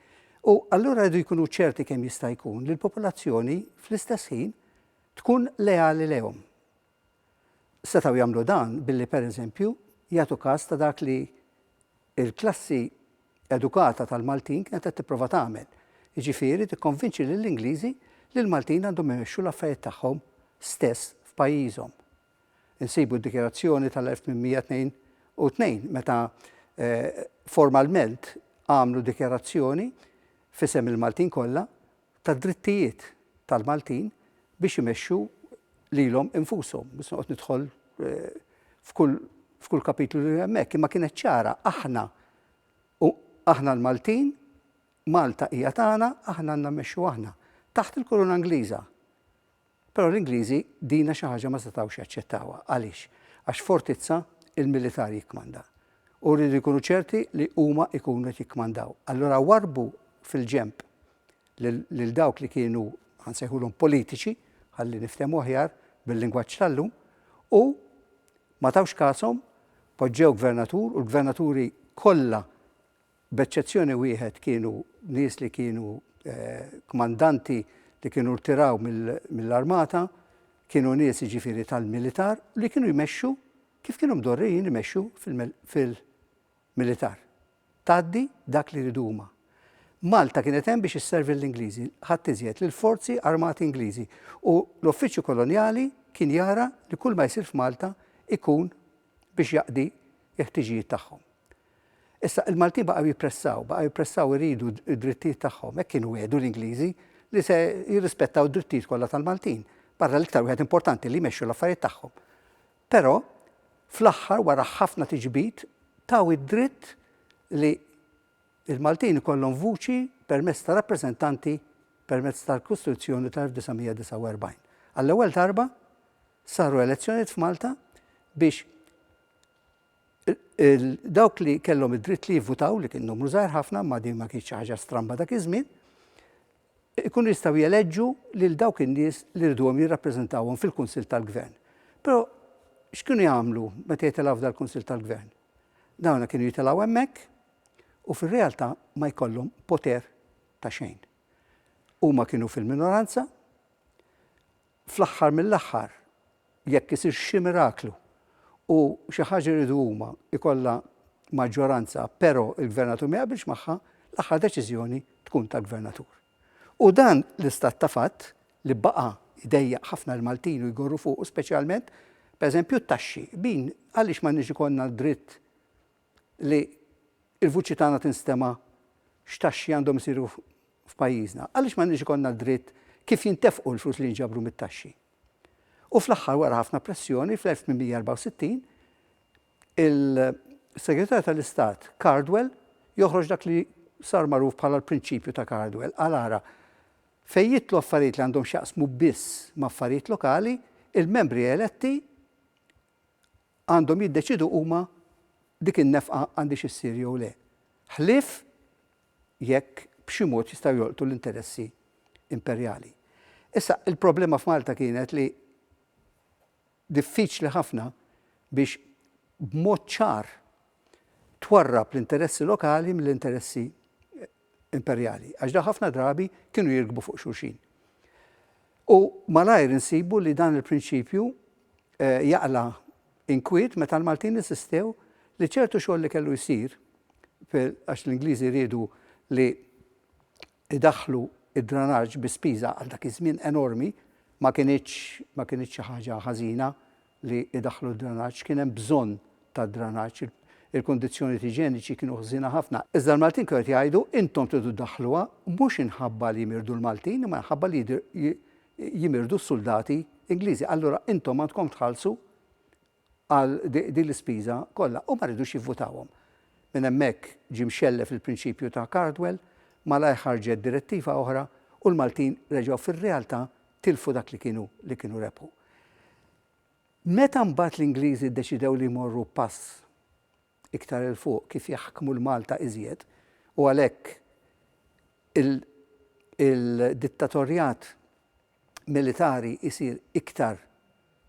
U allura rridu jkunu ċerti kemm jista' jkun li l-popolazzjoni fl-istess ħin tkun leali lehom. Setaw jagħmlu dan billi pereżempju jagħtu każ ta' dak li il-klassi edukata tal-Maltin kienet qed tipprova tagħmel. Jiġifieri tikkonvinċi lill-Ingliżi li l-Maltin għandhom imexxu l-affarijiet tagħhom stess f'pajjiżhom. Insibu d-dikjarazzjoni tal-1822 meta formalment għamlu dikjarazzjoni f'isem il-Maltin kollha tad-drittijiet tal-Maltin biex imexxu lilhom infushom. Biss noqgħod nidħol f'kull kapitlu li hemmhekk, imma kienet ċara aħna aħna l-Maltin, Malta hija tagħna, aħna għandna mmexxu aħna. Taħt il-Kuruna Ingliża. Però l-Ingliżi dina xi ħaġa ma setgħux jaċċettawha. Għaliex? Għax f'fortizza l-militar jikkmanda. U rridu jkunu ċerti li huma jkunu qed jikkmandaw. Allura warrbu fil-ġenb lil dawk li kienu ħansejħulhom politiċi, ħalli niftehmu aħjar bil-lingwaġġ tal-lum, u ma tawx kashom, poġġew gvernatur u l-gvernaturi kollha b'eċċezzjoni wieħed kienu nies li kienu kmandanti li kienu rtiraw mill-armata, kienu nies jiġifieri tal-militar li kienu jmexxu kif kienu mdorrijin imexxu fil-militar. Tgħaddi dak li jridu huma. Malta kienet hemm biex isservi lill-Ingliżi, ħadd iżjed, lill-forzi armati Ingliżi u l-Uffiċċju Kolonjali kien jara li kulma jsir f'Malta jkun biex jaqdi l-ħtiġijiet tagħhom. Issa, il-Maltin baqgħu jippressaw, baqgħu jippressaw iridu d-drittijiet tagħhom, hekk kienu wegħdu l-Ingliżi li se jirrispettaw d-drittijiet kollha tal-Maltin, barra l-iktar wieħed importanti li jmexxu l-affarijiet tagħhom. Però, fl-aħħar wara ħafna tiġbid, taw id-dritt li l-Maltin ikollhom vuċi permezz ta' rappreżentanti permezz tal-Kostituzzjoni tal-1949. Għall-ewwel darba saru elezzjonijiet f'Malta biex dawk li kellhom id-dritt li jivvutaw li kien numru żgħir ħafna ma din ma kienx ħaġa stramba dak iż-żmien, ikunu jistgħu jeleġġu lil dawk in-nies li rduhom jirrappreżentawhom fil-Kunsill tal-Gvern. Però x'kienu jagħmlu meta jitilgħu f'dal Kunsill tal-Gvern? Dawna kienu jitilgħu hemmhekk u fir-realtà ma jkollhom poter ta' xejn. Huma kienu fil-minoranza Fl-aħħar mill-aħħar, jekk isir xi miraklu u xi ħaġa jridu huma jkollha maġġoranza pero' il-Gvernatur ma jaqbilx magħha, l-aħħar deċiżjoni tkun tal-Gvernatur. U dan l-istat ta' fatt li baqa' jdejjaq ħafna l-Maltin u jgorru fuqu speċjalment, pereżempju t-taxxi, min għaliex m'għandniex ikollna d-dritt li l-vuċi tagħna tinstema' x'taxxi għandhom isiru f'pajjiżna. Għaliex m'għandniex ikollna d-dritt kif jintefqu l-flus li jinġabru mit-taxxi? U fl-aħħar wara ħafna pressjoni fl-1864 il-Segretarju tal-Istat Cardwell joħroġ dak li sar magħruf bħala l-prinċipju ta' Cardwell. Qal ara, fejn jidħlu affarijiet li għandhom x'jaqsmu biss ma' affarijiet lokali, il-membri eletti għandhom jiddeċiedu huma dik in-nefqa għandhiex issir jew le, ħlief jekk b'xi mod jistgħu jolqtu l-interessi imperjali. Issa, il-problema f'Malta kienet li diffiċli ħafna biex b'mod ċar twarrab l-interessi lokali mill-interessi imperjali, għax dawn ħafna drabi kienu jirkbu fuq xulxin. U malajr insibu li dan il-prinċipju jaqla' inkwiet meta l-Maltin insistew li ċertu xogħol li kellu jsir, għax l-Ingliżi riedu li idaħħlu d-dranaġġ bi spiża għal dak iż-żmien enormi, ma kinitx xi ħaġa ħażina li jdaħħlu d-dranaġġ, kien hemm bżonn ta' dranaġġ, il-kundizzjonijiet iġeniċi kienu ħżiena ħafna. Iżda l-Maltin kienu qed jgħidu, intom tridu ddaħħluha, mhux inħabba li jimirdu l-Maltin, imma inħabba li jimirdu s-suldati Ingliżi. Allura intom għandkom tħallsu għal din l-ispiża kollha. U ma rridux jivvutawhom. Minn hemmhekk ġie mxellef il-prinċipju ta' Cardwell, malajr ħarġet direttiva oħra u l-Maltin reġgħu fir-realtà tilfu dak li kienu li kienu rebħu. Meta mbagħad l-Ingliżi ddeċidew li jmorru pass iktar 'il fuq kif jaħkmu 'l Malta iżjed u għalhekk il il-dittatorjat militari jsir iktar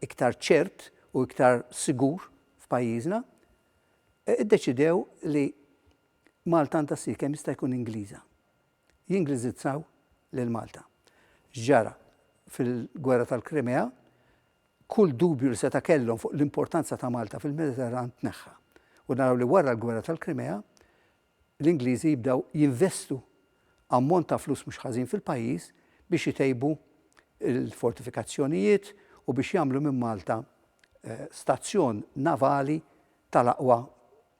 iktar ċert u iktar sigur f'pajjiżna, iddeċidew li Malta għandha ssir kemm jista' jkun Ingliża. jingliżizzaw lil Malta. X'ġara fil-Gwerra tal-Krimea, kull dubju li seta' kellhom fuq l-importanza ta' Malta fil-Mediterran tneħħa. U naraw li wara l-Gwerra tal-Krimea, l-Ingliżi jibdew jinvestu ammont ta' flus mhux ħażin fil-pajjiż biex itejbu l-fortifikazzjonijiet u biex jagħmlu minn Malta stazzjon navali tal-aqwa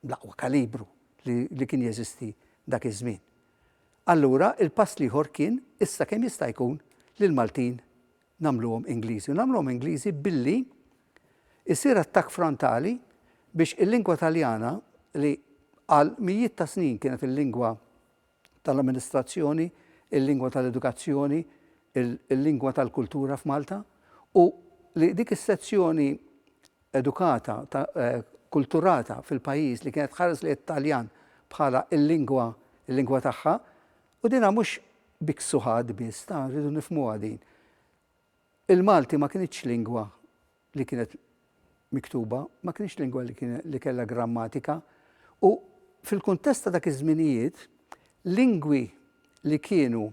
bl-aqwa kalibru li kien jeżisti dak iż-żmien. Allura il-pass l-ieħor kien issa kemm jista' jkun li l-Maltin nagħmluhom Ingliżi u nagħmluhom Ingliżi billi jsir attakk frontali biex il-lingwa Taljana li għal mijiet ta' snin kienet il-lingwa tal-amministrazzjoni, il-lingwa tal-edukazzjoni, il-lingwa tal-kultura f'Malta, u li dik is-sezzjoni edukata, kulturata fil-pajjiż li kienet tħares lejn it-Taljan bħala l-lingwa l-lingwa tagħha, u dinha mhux biksuħat biss, ta' rridu nifhmuha din. Il-Malti ma kinitx lingwa li kienet miktuba, ma kinitx lingwa li kellha grammatika u fil-kuntest ta' dak iż-żminijiet, lingwi li kienu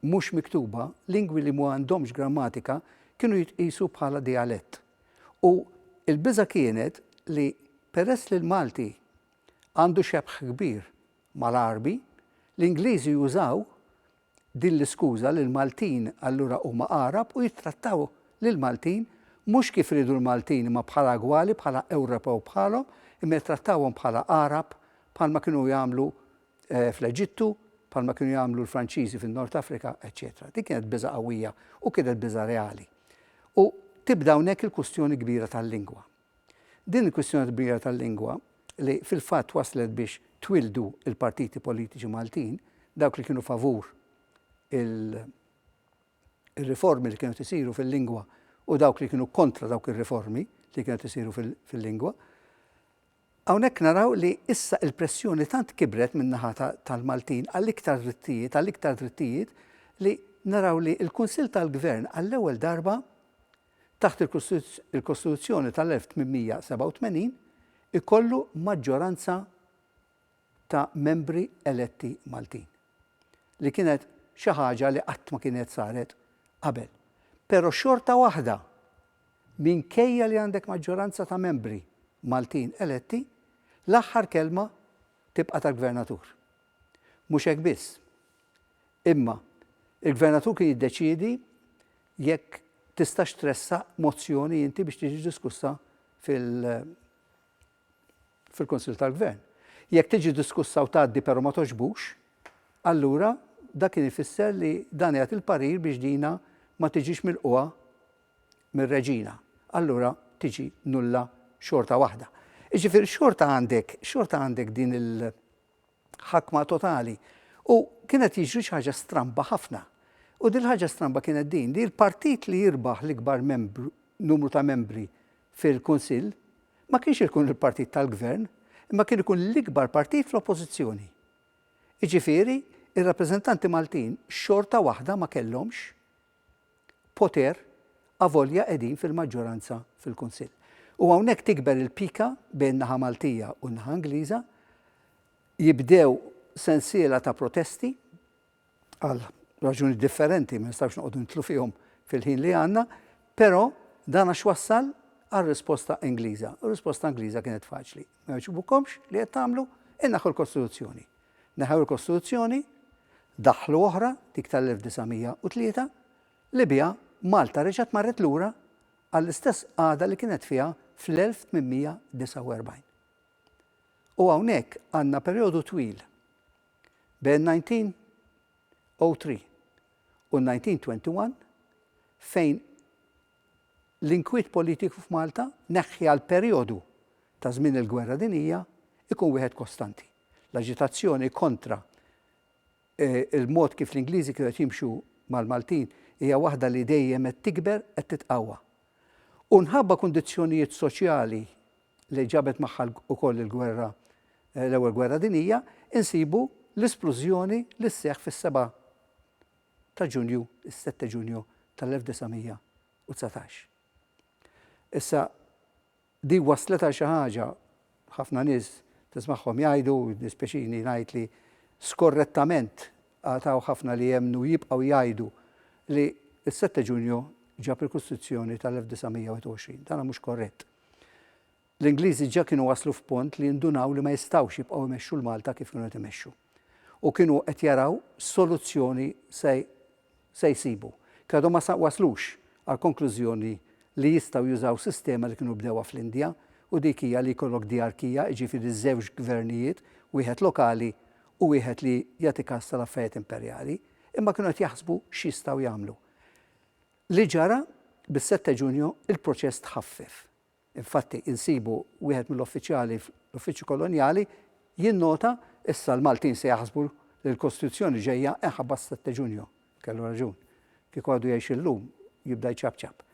mhux miktuba, lingwi li ma għandhomx grammatika kienu jitqiesu bħala dijalett. U l-biża' kienet li peress li l-Malti għandu xebħ kbir mal-Għarbi, l-Ingliżi jużaw din l-iskuża li l-Maltin allura huma Għarab u jittrattaw lill-Maltin mhux kif iridu l-Maltin imma bħala gwali, bħala Ewropew bħalhom, imma jittrattawhom bħala Għarab bħalma kienu jagħmlu fl-Eġittu, bħalma kienu jagħmlu l-Franċiżi fin-Nord Afrika, eċċetera. Din kienet biża' qawwija u kienet biża' reali. U tibda hawnhekk il-kwistjoni kbira tal-lingwa. Din il-kwistjoni kbira tal-lingwa, li fil-fatt wasslet biex twieldu l-partiti politiċi Maltin, dawk li kienu favur ir-riformi li kienet isiru fil-lingwa u dawk li kienu kontra dawk ir-riformi li kienet isiru fil-lingwa, hawnhekk naraw li issa il-pressjoni tant kibret min-naħa tal-Maltin għal iktar drittijiet, għal iktar drittijiet, li naraw li l-Kunsill tal-Gvern għall-ewwel darba taħt il-Kostituzzjoni tal-1887, ikollu maġġoranza ta' membri eletti Maltin, li kienet xi ħaġa li qatt ma kienet saret qabel. Però xorta waħda, minkejja li għandek maġġoranza ta' membri Maltin eletti, l-aħħar kelma tibqa' tal-Gvernatur. Mhux hekk biss, imma l-Gvernatur kien jiddeċiedi jekk tistax tressaq mozzjoni inti biex tiġi diskussa fil fil-Kunsill tal-Gvern. Jekk tiġi diskussa u tgħaddi però ma togħġbux, allura dak kien ifisser li dan jagħti l-parir biex dina ma tiġix milqugħa mir-Reġina. Allura tiġi nulla xorta waħda. Jiġifieri xorta għandek, xorta għandek din il ħakma totali. U kien qed jiġri xi ħaġa stramba ħafna. U din il-ħaġa stramba kienet din, li l-partit li jirbaħ l-ikbar numru ta' membri fil-Kunsill ma kienx ikun il-partit tal-Gvern, imma kien ikun l-ikbar partit fl-Oppożizzjoni. Jiġifieri, ir-rappreżentanti Maltin xorta waħda ma kellhomx poter avolja qegħdin fil-maġġoranza fil-Kunsill. U hawnhekk tikber il-pika bejn in-naħa Maltija u n-naħa Ingliża, jibdew sensiela ta' protesti għal raġuni differenti ma nistgħux noqogħdu nidħlu fihom fil-ħin li għandna, però dan għax wassal għal risposta Ingliża. U risposta Ingliża kienet faċli. Ma jogħġbukomx li qed tagħmlu, inneħħu l-Kostituzzjoni. Neħew il-Kostituzzjoni, daħħlu oħra, dik tal-1903, li biha Malta reġgħet marret lura għall-istess qagħda li kienet fiha fl-1849. U hawnhekk għandna perjodu twil bejn 1903 u 1921 fejn l-inkwiet politiku f'Malta neħħi għal perjodu ta' żmien il-gwerra dinija ikun wieħed kostanti. L-aġitazzjoni kontra l-mod kif l-Ingliżi kienu qed jimxu mal-Maltin hija waħda li dejjem qed tikber, qed titqawwa. U mħabba kundizzjonijiet soċjali li ġabet magħha wkoll il-gwerra, l-Ewwel Gwerra Dinjija, insibu l-isplużjoni li sseħħ fis-seba' ta' Ġunju, is-sette Ġunju tal-1919. Issa, Din wasslet għal xi ħaġa, ħafna nies tismagħhom jgħidu, u jiddispjaċini ngħid li skorrettament għad hawn ħafna li jemmnu u jibqgħu jgħidu li s-Sette Ġunju ġab il-Kostituzzjoni tal-1921. Dan mhux korrett. L-Ingliżi ġa kienu waslu f'punt li jindunaw li ma jistgħux jibqgħu jmexxu l-Malta kif kienu qed imexxu. u kienu qed jaraw soluzzjoni se se jsibu. Kien għadhom ma waslux għall-konklużjoni li jistgħu jużaw sistema li kienu bdewha fl-Indja u dik hija li jkollok djarkija, jiġifieri żewġ gvernijiet, wieħed lokali u wieħed li jagħti kas tal-affarijiet imperjali, imma kienu qed jaħsbu x'jistgħu jagħmlu. Li ġara, bis-sette Ġunju, il-proċess tħaffef. Infatti, insibu wieħed mill-uffiċjali fl-Uffiċċju Kolonjali jinnota, Issa l-Maltin se jaħsbu li l-Kostituzzjoni ġejja inħabbat s-sette Ġunju. Kellu raġun. Kieku għadu jgħix illum, jibda jċapċap.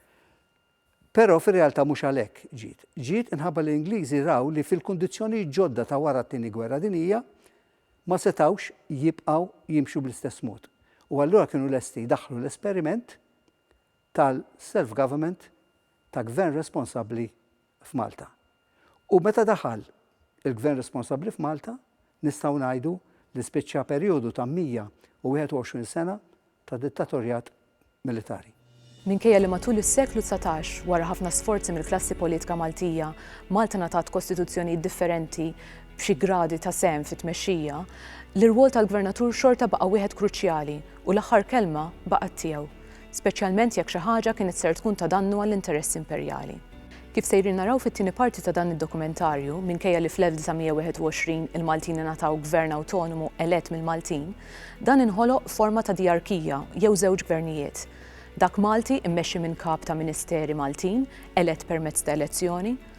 Però fir-realtà mhux għalhekk ġiet. Ġiet inħabba li l-Ingliżi raw li fil-kundizzjonijiet ġodda ta' wara t-Tieni Gwerra Dinjija ma setgħux jibqgħu jimxu bl-istess mod. U allura kienu lesti jdaħħlu l-esperiment tal-self-government ta' Gvern responsabbli f'Malta. U meta daħal il-Gvern responsabbli f'Malta, nistgħu ngħidu li spiċċa perjodu ta' 121 sena ta' dittatorjat militari. Minkejja li matul is-seklu dsatax, wara ħafna sforzi mill-klassi politika Maltija, Malta ngħatat kostituzzjonijiet differenti b'xi gradi ta' sehem fit-tmexxija, l-irwol tal-Gvernatur xorta baqa' wieħed kruċjali u l-aħħar kelma baqgħet tiegħu. speċjalment jekk xi ħaġa kienet ser tkun ta' dannu għall-interessi imperjali. Kif sejrin naraw fit-tieni parti ta' dan id-dokumentarju, minkejja li fl-1921 il-Maltin ingħataw gvern awtonomu elett mill-Maltin, dan inħoloq f'forma ta' dijarkija jew żewġ gvernijiet, dak Malti mmexxi minn kap ta' ministeri Maltin elett permezz ta' elezzjoni,